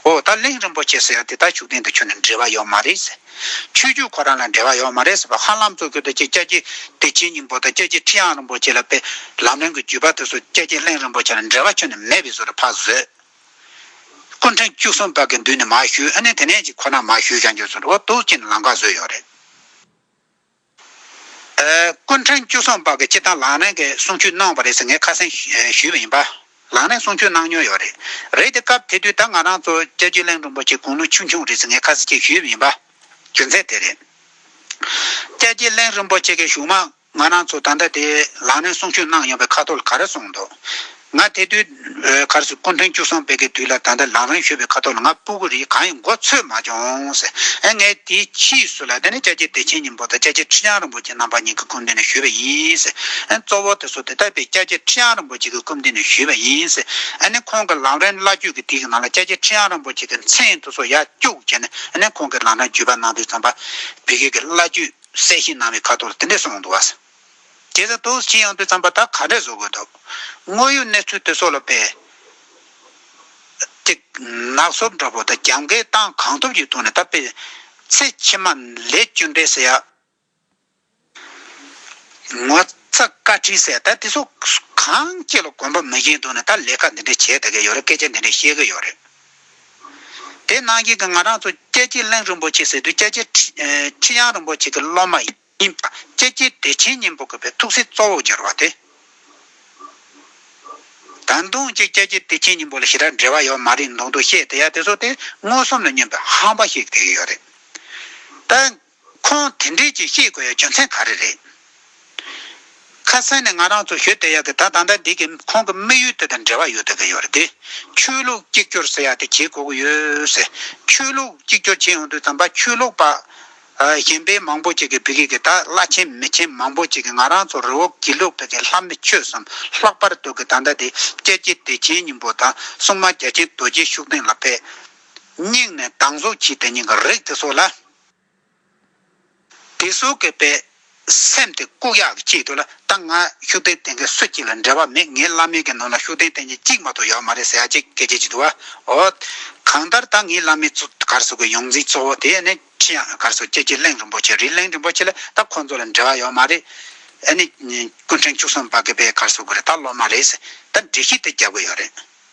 ཨོ་ད་གླིང་རིན་པོ་ཆེ་ཟེར་ཡ་དེ་དག་ཤུགས་ལྡན་དུ་ཁྱོད་ནི་འབྲེལ་བ་ཡོད་མ་རེད་ཟེར། ཆོས་རྒྱུད་ཁོ་རང་ལ་འབྲེལ་བ་ཡོད་མ་རེད་ཟེར་བ་ཧ་ལམ་གཙོ་གྱུར་དུ་ཁྱེད་སྐྱ་ཁྱི་བདེ་ཆེན་སྙིང་པོ་དང་སྐྱ་ཁྱི་ཁྲི་ཡང་རིན་པོ་ཆེ་ལ་པའི་ལམ་རིང་གི་བརྒྱུད་པ་དེ་ཚོ་སྐྱ་ཁྱི་གླིང་རིན་པོ་ཆེ་ལ་འབྲེལ་བ་ཁྱོད་ནི་མེད་པའི་བཟོ་རུ་ཕག་བཟོས། སྐུ་འཕྲེང་བཅུ་གསུམ་བར་གྱི་མདུན་ནས་མ་ཞུས་ཨ་ནི་དེ་ནས་ཅིག་ཁོ་ན་མ་ཞུས་ཀྱང་རྒྱུ་ཚོར་བ་དུག་ཅན་ལང་ཀ་བཟོས་ཡོད་རེད། ཀུན་ཕྲན་བཅུ་སོང་པ་གི་སྤྱི་དང་ལག་ལེན་གི་གསུང་ཆོས་གནང་བ་རེད་ཟེར་ངས་ཁ་སེང་ཞུས་པ་ཡིན་པ། ལག་ལེན་གསུང་ཆོས་གནང་མྱོང་ཡོད་རེད། རེད་དེ་སྐབས་དེ་དུས་ད་ང་རང་ཚོ་ལྕགས་ཀྱུ་གླིང་རིན་པོ་ཆེ་དགུང་ལོ་ཆུང་ཆུང་རེད་ཟེར་ངས་ཁ་སེང་ཞུས་པ་ཡིན་པ། རྒྱུ་མཚན་དེ་རེད། ལྕགས་ཀྱུ་གླིང་རིན་པོ་ཆེ་གི་གཞུང་མང་ང་རང་ཚོ་ད་ལྟ་དེ་ལག་ལེན་གསུང་ཆོས་གནང་ཡོང་པའི་ཁ་ཐོར་ལ་ག་རེ་གསུང་འདུག་ང་དེ་དུས་གར་སོང་སྐུ་འཕྲེང་བཅུ་གསུམ་སྤེལ་ཀའི་དུས་ལ་ད་ལྟ་ལང་རིང་ཤོས་པའི་ཁ་ཐོག་ལ་ང་སྤུ་གུ་རིའི་གང་ཡང་མགོ་ཚོས་མ་བྱུང། ངས་དེའི་ཕྱིས་སུ་ལ་དེ་ནི་ལྕགས་ཀྱི་བདེ་ཆེན་སྙིང་པོ་དང་ལྕགས་ཀྱི་ཁྲི་བྱང་རིན་པོ་ཆེ་རྣམ་པ་གཉིས་ཀྱི་སྐུ་མདུན་ནས་ཞུས་པ་ཡིན། གཙོ་བོ་དེ་ཚོ་དེ་ལྟ་བུའི་ལྕགས་ཀྱི་ཁྲི་བྱང་རིན་པོ་ཆེ་གི་སྐུ་མདུན་ནས་ཞུས་པ་ཡིན། ཁོང་གི་ལང་རིང་བླ་བརྒྱུད་ཀྱི་དུས་ཀྱི་ནང་ལ་ལྕགས་ཀྱི་ཁྲི་བྱང་རིན་པོ་ཆེ་གི་མཚན་དེ་ཚོ་ཡར་སྐྱུག་བྱས་ནས་ཁོང་གི་ལང་རིང་བརྒྱུད་པ་ནང་དུ་བརྩམས་པ། བོད་སྐད་ཀྱི་བླ་བརྒྱུད་གསལ་བཤད་གནང་བའི་ཁ་ཐོག་ལ་དེ་འདྲས་སོང་འདུག། དེ་ལྟ་བུ་ཅི་ཡང་དུས་བརྩམས་པ་དག་ག་འདྲས་བཟོ་དགོས་དོ། དངོས་ཡོད་གནས་ཚུལ་དེ་སོགས་ལ་དཔེ། ཏིག། ནག་སོབ་འདྲ་པོ་དང་རྒྱབ་འགལ་སྟངས་གང་ཐུབ་ཀྱིས་བཏོན་ནས་ད་དཔེ། ཚེ་ཕྱི་མ། ལས་སྐྱོན་འདྲེ་སེ་ཡ། ངོ་ཚ་བཀའ་ཁྲི་སེ་ད་དེ་སོགས་གང་སྐྱེ་ལ་གོམས་པ་མི་སྐྱེ་འདུག་ནས་ད་ལས་ཀ་འདི་འདྲ་བྱས་ད་གི་ཡོད་རེད་སྐད་ཆ་འདི་འདྲ་བཤད་གི་ཡོད་རེད། དེ་ནང་བཞིན་གྱི་ང་རང་ཚོ་སྐྱ་ཁྱི་གླིང་རིན་པོ་ཆེ་ཟེར་དུས་སྐྱ་ཁྱི་ཁྲི་དབྱངས་རིན་པོ་ཆེ་གི་སློབ་མ་ཡིན། གཉིས་པ། ཀྱེ་ཀྱེ་བདེ་ཆེན་སྙིང་པོ་དགོད་པའི་ཐུགས་སྲས་གཙོ་བོར་སྦྱར་བ་སྟེ། ད་མདུང་གཅིག་ཀྱེ་ཀྱེ་བདེ་ཆེན་སྙིང་པོ་ལ་ཞེ་དྲག་འབྲེལ་བ་ཡོད་མ་རེད་མདོག་མདོག་བཤད་དེ་ཡ་དེ་ཚོ་སྟེ་མངོན་སུམ་ལ་སྙོན་པའི་ཧམ་པ་ཞིག་དེ་ཡོད་རེད་ད། ཁོང་དེ་འདྲས་ཀྱིས་ཤེས་དགོས་ཡ་རྒྱུ་མཚན་ག་རེ་རེད། ཁ་སང་ནས་ང་རང་ཚོ་ཞོལ་དེ་ཡ་གི་ད་ད་ལྟ་འདི་གི་ཁོང་གི་དམིགས་ཡུལ་དེ་དང་འབྲེལ་བ་ཡོད་དགོས་ཀྱི་ཡོད་རེད་དེ། ཆོས་ལུགས་གཅིག་གྱུར་ཟེར་ཡ་དེ་བྱེད་དགོས་ཀྱི་ཡོད། ཆོས་ལུགས་གཅིག་གྱུར་བྱེད་ཡོང་དུས་དམ་པ་ཆོས་ལུགས་པ། གཞན་པའི་མང་པོ་ཅིག་གིས་བི་གིས་གི་ད་བླ་ཆེན་མི་ཆེན་མང་པོ་ཅིག་གིས་ང་རང་ཚོ་རི་བོ་དགེ་ལུགས་བོད་ཀྱི་ལྷ་མི་ཆོས་སམ་ལྷག་པར་དུ་གི་ད་ཟླ་དེ་སྤྱད་ཀྱི་བདེ་ཆེན་སྙིང་པོ་དང་སྲུང་མ་རྒྱ་ཆེན་རྡོ་རྗེའི་ཤུགས་སྟེང་ལ་ཕེབས། སྙིང་ནས་སྡང་ཟུག་བྱས་ཏེ་སྙིང་གི་རིགས་དེ་སོགས་ལ། དེ་སོགས་ཀྱི་དཔེ་སེམས་དེ་ལྐུག་གཡག་གི་ལྕེ་དུ་ལ་ད་ང་ཤུགས་ལྡན་བསྟན་མཁན་སུ་གཅིག་ལ་འབྲེལ་བ་མེད་ངའི་བླ་མེད་ཀྱི་ནང་ལ་ཤུགས་ལྡན་བསྟན་མཁན་གཅིག་མ་ཏོག་ཡོད་མ་རེད་ཟེར་ཡ་ཅེས་སྐད་ཆ་བྱེད་འདུག་བ་ཨོ། གང་ལྟར་ད་ངའི་བླ་མེད་གཙོ་གར་སོག་གི་ཡོངས་འཛིན་གཙོ་བོ་དེ་ནི་ཁྲི་ཡང་གར་སོག་སྐྱེས་ཀྱི་གླིང་རིན་པོ་ཆེ་རི་གླིང་རིན་པོ་ཆེ་ལ་ད་ཁོང་ཚོ་ལ་འབྲེལ་བ་ཡོད་མ་རེད། ཨ་ནི་སྐུ་ཕྲེང་བཅུ་གསུམ་པ་གི་པའི་གར་སོག་གི་རེད་ད་སློབ་མ་རེད། ད་འདྲི་ཤིག་དེ་རྒྱབ་གི་ཡོད་རེད།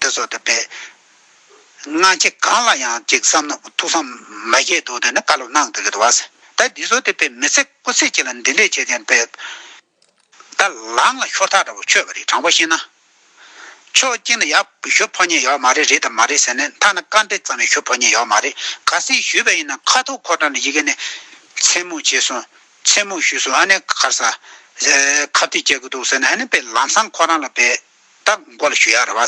འདི་ཚོ་དེ་པས། སྔ་ཕྱི་གང་ལ་ཡང་གཅིག་བསམ་ན་ཐུགས་བསམ་མ་བཞེས་དོ་དེ་ནི་བཀའ་སློབ་གནང་དེ་གི་དོ། ད་འདི་ཚོ་དེ་པས་མི་ཚེ་སྐུ་ཚེ་གཅིག་ལ་འདི་འདྲས་བྱས་ཀྱང་དཔེ། ད་ལངས་ལ་ཤོར་ཐག་འདྲ་པོ་ཆོད་པ་རེད་དྲང་པོ་བཤད་ན། ཕྱོགས་གཅིག་ནས་ཡག་ཞུ་ཕོ་ཉས་ཡོད་མ་རེད་རེད་དམ་མ་རེད་ཟེར་ནས་མཐའ་ན་བཀའ་འདྲི་ཙམ་ཡང་ཞུ་ཕོ་ཉས་ཡོད་མ་རེད་ག་སེ་ཞུས་པ་ཡིན་ན་ཁ་ཐུག་ཁོ་ཁྲག་ནས་ཡི་གེ་ནས། མཚན་སྨོད་བྱས་སོང། མཚན་སྨོད་ཞུས་སོང་ཨ་ནེ་གར་ས། ཁ་བརྡས་བསྐྱལ་གི་འདུག་ཟེར་ནས་ཨ་ནེ་པས་ལམ་སང་ཁོ་རང་ལ་བས། བདག་མགོ་ལ་ཞུ་ཡག་རེད་བ།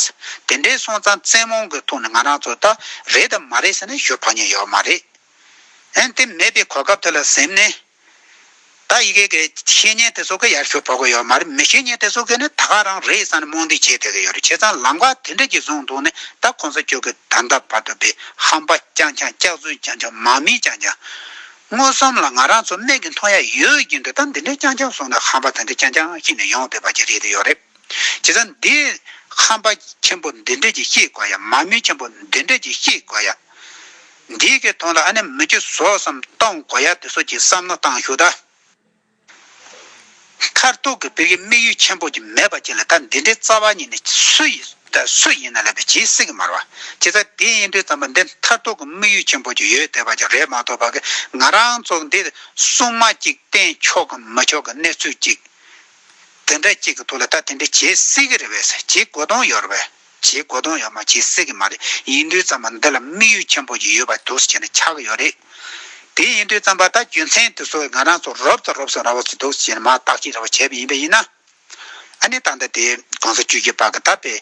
དེ་འདྲའི་སོང་ཙང་བཙན་མོང་གི་ཐོག་ནས་ང་རང་ཚོ་ད་རེད་དམ་མ་རེད་ཟེར་ནས་ཞུ་ཕོག་ཉན་ཡོད་མ་རེད། ཨན་དེ་མེད་པའི་གོ་སྐབས་དེ་ལ་གཟིམ་ནས། ད་ཡི་གེ་གི་བཤེས་གཉེན་དེ་ཚོ་གི་ཡར་ཞུ་ཕོག་གི་ཡོད་མ་རེད་མི་བཤེས་གཉེན་དེ་ཚོ་གི་ནི་ད་ག་རང་རེད་བསམ་ནས་རྨོངས་དད་བྱེད་སྡོད་ཀྱི་ཡོད་རེད་བྱས་ཙང་ལམ་ཁ་དེ་འདྲ་ཞིག་བཟུང་འདུག་ནི་ད་གོང་ས་མཆོག་གི་ད་ལྟ་བར་དུ་པའི་ཧམ་པ་རྐྱང་རྐྱང་སྐྱག་རྫུན་རྐྱང་རྐྱང་མ་མིན་རྐྱང་རྐྱང། མངོན་སུམ་ལ་ང་རང་ཚོ་སྨད་ཀྱི་མཐོང་ཡ་ཡོད་ཀྱི་འདུག་ད་འདི་འདྲའི་རྐྱང་རྐྱང་བཟུང་ནས་ཧམ་པ་དེ་འདྲ་རྐྱང་རྐྱང་ཞིག་ནི་ཡོང་སྡོད་པ་ཅི་རེད་དེ་ཡོད་རེད། བྱས་ཙང་འདི། ཧམ་པ་ཆེན་པོ་འདི་འདྲས་ཀྱིས་ཤེས་དགོས་ཡ་མ་མོས་ཆེན་པོ་འདི་འདྲས་ཀྱིས་ཤེས་དགོས་ཡ། འདི་གི་ཐོག་ལ་ཨ་ནེ་མི་ཁྱི་ཟོག་བསམ་གཏོང་དགོས་ཡ་དེ་སོགས་ཀྱི་བསམ་མནོ་བཏང་ཞུགས་ད། མཐར་ཐུག་གི་བོད་ཀྱི་དམིགས་ཡུལ་ཆེན་པོ་གཅིག་མེད་པ་གཅིག་ལ་ད་འདི་འདྲའི་རྩ་བ་ཉིད་ནས་སུ་ཡིན་ད་སུ་ཡིན་ན་ལས་པའི་ཇི་སྲིད་ཀྱི་མར་བ། བྱས་ཙང་འདི་ཡིན་དུས་བརྩམས་པ་འདི་མཐར་ཐུག་གི་དམིགས་ཡུལ་ཆེན་པོ་གཅིག་ཡོད་བསྡད་པ་ཅིག་རེད་མ་གཏོགས་བ་གི་ང་རང་ཚོ་འདི་སྲུང་མ་གཅིག་བསྟེན་ཆོག་གི་མི་ཆོག་གི་གནས་ཚུལ་གཅིག་དེ་འདྲ་གཅིག་གི་ཐུགས་ལ་ད་དེ་འདྲ་བྱེད་སྲིད་ཀྱི་རེད་བས་སོ་བྱེད་དགོས་དོན་ཡོད་རེད་བས་བྱེད་དགོས་དོན་ཡོད་མ་བྱེད་སྲིད་ཀྱི་མ་རེད་ཡིན་དུས་རྩམ་པ་འདི་ལ་དམིགས་ཡུལ་ཆེན་པོ་ཞིག་ཡོད་པ་དུས་སུ་ཆེ་ན་ཆགས་ཀྱི་ཡོད་རེད་དེ་ཡིན་དུས་རྩམ་པ་ད་རྒྱུ་མཚན་དུས་སུ་ང་རང་ཚོ་རོབ་ཙམ་རོབ་སོང་ར་བ་ཚོས་དུས་སུ་ཆེ་ན་མ་བརྟག་ཅིག་ར་བ་བྱས་པ་ཡིན་པས་ཡིན་ན་ཨ་ནི་ད་ལྟ་དེ་གོང་ས་བཅུ་གཅིག་པ་གི་ད་དཔེ་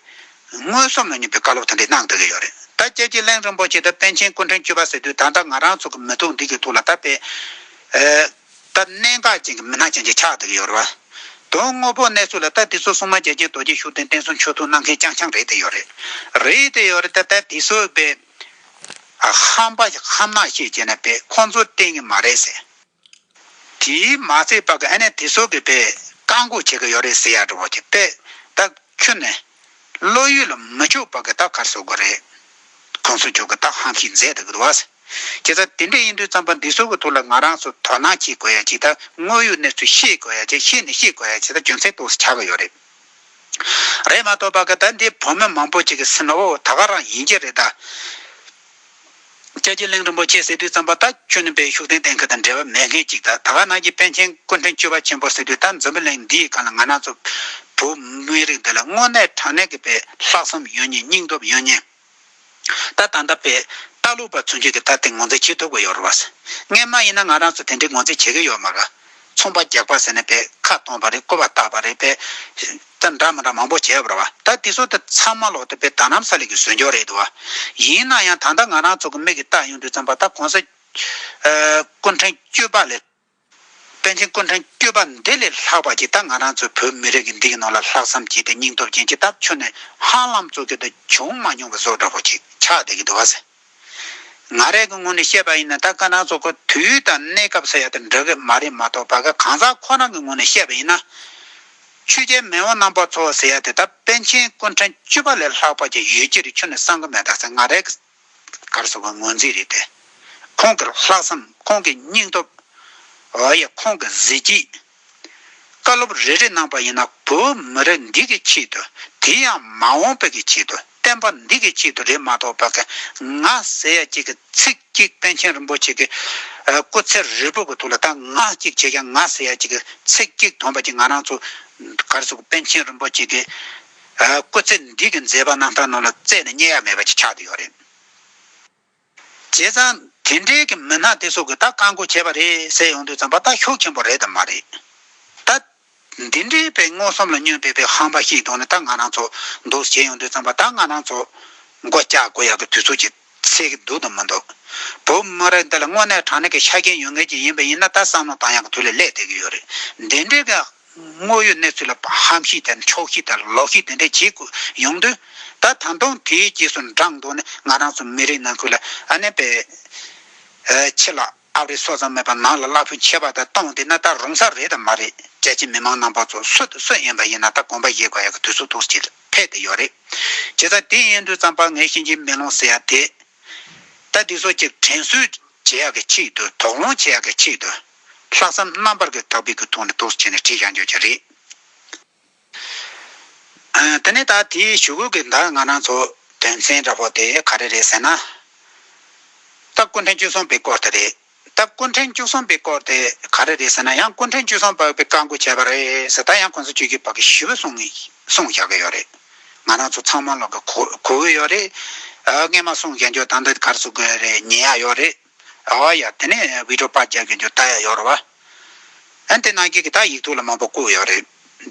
མངོན་སུམ་ལ་ཉོན་པའི་བཀའ་སློབ་དེ་འདྲ་གནང་སྡོད་ཀྱི་ཡོད་རེད་ད་དཔྱད་ཅིག་གླིང་རིན་པོ་ཆེ་དང་པན་ཆེན་སྐུ་ཕྲེང་བཅུ་པ་ཟེར་དུས་ད་ལྟ་ང་རང་ཚོ་གི་མི་ཐུགས་འདི་གི་ཐུགས་ལ་ད་དཔེ་ད་གནད་འགག་ཅན་གྱི་མི་སྣ་ཅན་གྱི་ཕྱག་དེར་ཡོད་རེད་བ། དོན་དངོས་པོ་གནས་ཚུལ་ལ་ལྟ་དེ་ཚོ་སྲུང་མ་རྒྱལ་གཅེས་རྡོ་རྗེ་ཤུགས་ལྡན་བསྟན་སྲུང་ཆོས་དུང་གནང་མཁན་རྐྱང་རྐྱང་རེད་དེ་ཡོད་རེད། རེད་དེ་ཡོད་རེད་ད་ལྟ་དེ་ཚོའི་དཔེ། ཧམ་པ་ཞིག་ཧམ་ནག་ཤེས་བྱས་ནས་དཔེ་ཁོང་ཚོ་བསྟན་གི་མ་རེད་ཟེར། དེའི་མ་ཚད་པ་གི་ཨ་ནེ་དེ་ཚོ་གི་དཔེ་བཀག་འགོག་བྱེད་གི་ཡོད་རེད་ཟེར་ཡག་རེད་བ་ཀྱི་དཔེ། ད་ཁྱོད་ནས། བློ་ཡུལ་ལ་མི་ཕྱོགས་པ་གི་རྟགས་གར་སོགས་དགོས་རེད། ཁོང་ཚོས་ཁྱོད་ཀྱི་རྟགས་ཧམ་ཤིག་མཛད་འདུག་གདའ། ཁྱེད་ཚོ་དེ་འདྲས་ཡིན་དུས་རྩམ་པ་འདི་ཚོ་གི་ཐོག་ལ་ང་རང་ཚོ་དོ་སྣང་བྱེད་དགོས་ཡ་ཇི་ལྟར་དངོས་ཡོད་གནས་ཚུལ་ཤེས་དགོས་ཡ་ཇི་ཤེས་ནས་ཤེས་དགོས་ཡ་ཇི་ལྟར་རྒྱུ་མཚན་རྟོགས་སུ་ཆགས་ཀྱི་ཡོད་རེད། རེད་མ་གཏོགས་པ་གི་ད་འདི་བོད་མི་མང་པོ་ཅིག་གི་སེམས་བོ་ད་ག་རང་ཡིན་གྱི་རེད་གདའ། རྒྱལ་གླིང་རིན་པོ་ཆེ་སི་ཏུས་བརྩམས་པ་ལྟ་སྤྱོད་ནི་པའི་ཤུགས་ལྡན་གཏན་འཁེལ་དང་འབྲེལ་བ་མེད་མཁན་ཅིག་ད་ད་ག་ནང་གི་པན་ཆེན་སྐུ་མགྲོན་སྤྱི་བ་ཆེན་པོ་སི་ཏུས་ལྟར་འཛམ་བུ་གླིང་འདིའི་སྒང་ལ་ང་ནང་ཚོ་བོད་མི་རིགས་འདི་ལ་དངོས་གནས་དྲང་གནས་ཀྱི་པའི་ལྷག་བསམ་ཡོད་ཉེ་སྙིང་སྟོབས་ཡོད་ཉེ། ད་ད་ལྟ་པའི་ལྟ་ལུགས་པ་ཚུན་ཆོད་ཀྱི་ལྟ་སྟེང་ངོ་འཛིན་བྱེད་ཐུབ་ཀྱི་ཡོད་རུ་བ། ངས་མ་ཡིན་ན་ང་རང་ཚོ་དེ་འདྲའི་ངོ་འཛིན་བྱེད་ཀྱི་ཡོད་མ་ག། ཚོང་པ་རྒྱག་པ་ཟེར་ནས་པའི་ཁ་སྟོང་པ་རེད་བཀོད་པ་བཏགས་པ་རེད་པའི། ད་འདྲ་མི་འདྲ་མང་པོ་བྱས་པར་བ་ད་དེ་ཚོ་དེ་ཚང་མ་ལོག་ཏུ་པའི་ད་ནམ་ས་ལེགས་ཀྱི་ཟོལ་འཇོག་རེད་དོ། ཡིན་ན་ཡང་ད་ལྟ་ང་རང་ཚོ་གི་མིག་གི་བལྟ་ཡོང་དུས་ཙམ་པ་ད་གོང་ས། ཀུན་ཕྲན་སྐྱོད་པ་ལས། པན་ཆེན་ཀུན་ཕྲན་སྐྱོད་པ་འདི་ལས་ལྷག་པ་ཅིག་ད་ང་རང་ཚོའི་བོད་མི་རིགས་ཀྱི་འདི་ཡི་ནང་ལ་ལྷག་བསམ་བསྐྱེད་དེ་སྙིང་སྟོབས་ཅན་གྱི་སྟབས་ཆོས་ནས་ཧང་ལམ་བཙུགས་ཀྱི་དུ་བྱུང་མ་མྱོང་པའི་བཟོ་འདྲ་པོ་ཅིག་ཆགས་བསྡད་ཀྱི་འདུག་བ་ཟེར། ང་རས་ཀྱི་ངོས་ནས་བཤད་པ་ཡིན་ན་ད་སྐ་ནག་ཚོ་ཁོ་དུས་དང་གནས་སྐབས་ས་ཡ་དང་འདྲ་གི་མ་རེད་མ་གཏོགས་བ་ག་གང་ཟག་ཁོ་རང་གི་ངོས་ནས་བཤད་པ་ཡིན་ན། ཆོས་རྒྱལ་མེས་དབོན་རྣམ་པ་ཚོ་ཟེར་ཡ་དེ་དག་པན་ཆེན་སྐུ་ཕྲེང་བཅུ་པ་ལས་ལྷག་པ་ཅིག་ཡོད་ཀྱི་རེད་ཁྱོད་ནས་བསམ་གི་མེད་ད་ཟེར་ང་རས་ཀྱི་གར་སོང་བ་ངོས་འཛིན་རེད་དེ། ཁོང་གི་ལྷག་བསམ་ཁོང་གི་སྙིང་སྟོབས། འོ་ཡ་ཁོང་གི་གཟི་བརྗིད། བཀའ་སློབ་རེ་རེ་གནང་པ་ཡིན་ན་བོད་མི་རིགས་འདི་གི་ཆེད་དུ་དེ་ཡང་མ་འོངས་པའི་གི་ཆེད་དུ་བསྟན་པ་འདི་གི་ཆེད་དུ་རེད་མ་གཏོགས་བོད་གི་ང་ཟེར་ཡ་གཅིག་གི་ཚིག་གཅིག་པན་ཆེན་རིན་པོ་ཆེ་གི་སྐུ་ཚེ་རིལ་པོ་གི་ཐུགས་ལ་ད་ང་གཅིག་བྱས་ཀྱང་ང་ཟེར་ཡ་གཅིག་གི་ཚིག་གཅིག་དོན་པ་གྱི་ང་རང་ཚོ་གར་སོང་པན་ཆེན་རིན་པོ་ཆེ་གི་སྐུ་ཚེ་འདི་གི་མཛད་པ་རྣམས་ད་ནང་ལ་བཙལ་ནས་རྙེད་ཡ་མེད་པ་ཅིག་ཆགས་དུ་ཡོད་རེད། བྱས་ཙང་དེ་འདྲའི་གི་མི་སྣ་དེ་ཚོ་གི་ད་བཀའ་མགོ་བྱས་པ་རེད་ཟེར་ཡོང་དུས་ཙམ་པ་ད་ཤོག་ཆེན་པོ་རེད་དམ་མ་རེད། ད་འདི་འདྲའི་པའི་མངོན་སུམ་ལ་བསྙོན་པའི་པའི་ཧམ་པ་ཞིག་གཏོང་ནས་ད་ང་རང་ཚོ་འདུག་ཟེར་ཡོང་དུས་ཙམ་པ་ད་ང་རང་ཚོ་མགོ་བཀྱག་དགོས་ཡག་གི་དུས་ཚོད་ཀྱི་ཚེས་གི་འདུག་དང་མི་འདུག་བུ་མོ་རེད་འདི་ལ་དངོས་གནས་དྲང་གནས་གི་ཆ་རྐྱེན་ཡོད་ངེས་ཀྱི་ཡིན་པ་ཡིན་ན་ད་བསམ་བློ་བཏང་ཡག་གི་དུས་ལ་སླེབས་བསྡད་གི་ཡོད་རེད་འདི་འདྲའི་གི། དངོས་ཡོད་གནས་ཚུལ་ལ་བྷམ་ཤིས་དང་ཆོག་ཤིས་དང་ལོག་ཤིས་དེ་འདྲས་བྱེད་དགོས་ཡོང་དུས། ད་ད་དུང་དེའི་རྗེས་སུ་འབྲངས་འདུག་ནས་ང་རང་ཚོ་མི་རིགས་ནང་ཁུལ་ལ་ཨ་ནེ་པའི་ཕྱི་ལ་ཨབ་རི་སོགས་ཙམ་མེད་པར་ནང་ལ་གླ་ཕོད་ཆེ་བ་དག་གཏོང་བསྡད་ན་ད་རུང་ས་རེད་དང་མ་རེད་རྒྱལ་སྤྱི་མི་མང་རྣམ་པ་ཚོ་སུ་དང་སུ་ཡིན་པ་ཡིན་ན་ད་གོམ་པ་བཞེས་དགོས་ཡག་གི་དུས་ཚོད་ཐུགས་ཆེ་ཕེད་དེ་ཡོད་རེད་བྱས་ཙང་དེ་ཡིན་དུས་ཙམ་པར་ངས་ཤེས་ཀྱི་མེ་ལོང་ཟེར་ཡག་དེ་ད་འདི་ཚོ་གཅིག་དྲན་གསོས་བྱེད་ཡག་གི་ཆེད་དུ་དོགས་སློང་བྱེད་ཡག་གི་ཆེད་དུ། ལྷག་བསམ་རྣམ་པར་གྱི་དག་པས་གུ་ཐོག་ནས་ཐོག་སུ་ཁྱེར་ནས་བྲིས་བཞག་འཇོག་གྱི་རེད། དེ་ནས་ད་དེའི་ཞུ་གོས་ཀྱི་འདར་ང་རང་ཚོ་དོན་ཚན་འདྲ་པོ་དེ་ག་རེ་རེད་ཟེར་ན། སྟབས་སྐུ་འཕྲེང་བཅུ་གསུམ་པའི་སྐོར་དེ་རེད། སྟབས་སྐུ་འཕྲེང་བཅུ་གསུམ་པའི་སྐོར་དེ་ག་རེ་རེད་ཟེར་ན་ཡང་སྐུ་འཕྲེང་བཅུ་གསུམ་བབས་པའི་བཀའ་འགུག་བྱས་པ་རེད་ཟེར་ད་ཡང་ཁོང་ཚོ་བཅུ་གཅིག་བབས་ཀྱི་ཞུ་བོད་གསུང་གསུང་བཞག་གི་ཡོད་རེད། ང་རང་ཚོ་ཚང་མ་ལོག་གི་གོ་གི་ཡོད་རེད། རྔན་མ་གསུང་བཞག་འཇོག་ད་འདི་གར་གསུང་གི་རེད་ཉན་ཡག་ཡོད་རེད། ར་བ་ཡ། དེ་ནས་བི་ཏྲོ་པ་རྒྱལ་གྱི་འགྱུར་ད་ཡ་ཡོ་ར་བ། ཨན་ཏེ་ནཱ་གི་གི་ད་ཡིག་ཐུག་ལ་མང་པོ་བཀུག་ཡོ་རེ།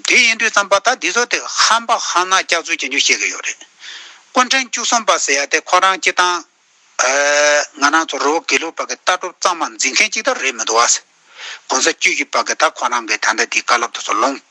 དེ་ཡིན་དུས་ཙམ་པ་ད་དི་ཟོ་དེ་ཧམ་པ་ཧ་ན་སྐྱག་ཚུལ་གྱི་འགྱུར་བཤད་གི་ཡོ་རེ། ཀོན་ཕྲན་བཅུ་གསུམ་པ་ཟེ་ཡ་དེ་ཁོ་རང་སྐྱི་ཏང། ང་རང་ཚོ་རོ་བོ་གི་ལུག་པ་གི་ལྟ་གྲུབ་གཙང་མ་འཛིན་མཁན་གཅིག་ད་རེད་མི་འདུག་བ། གོང་ས་བཅུ་བཞི་པ་གི་ད་ཁོ་རང་གི་ད་ནྡ་དི་ཀ་ལབ་ཏུ་སོ་ལོང།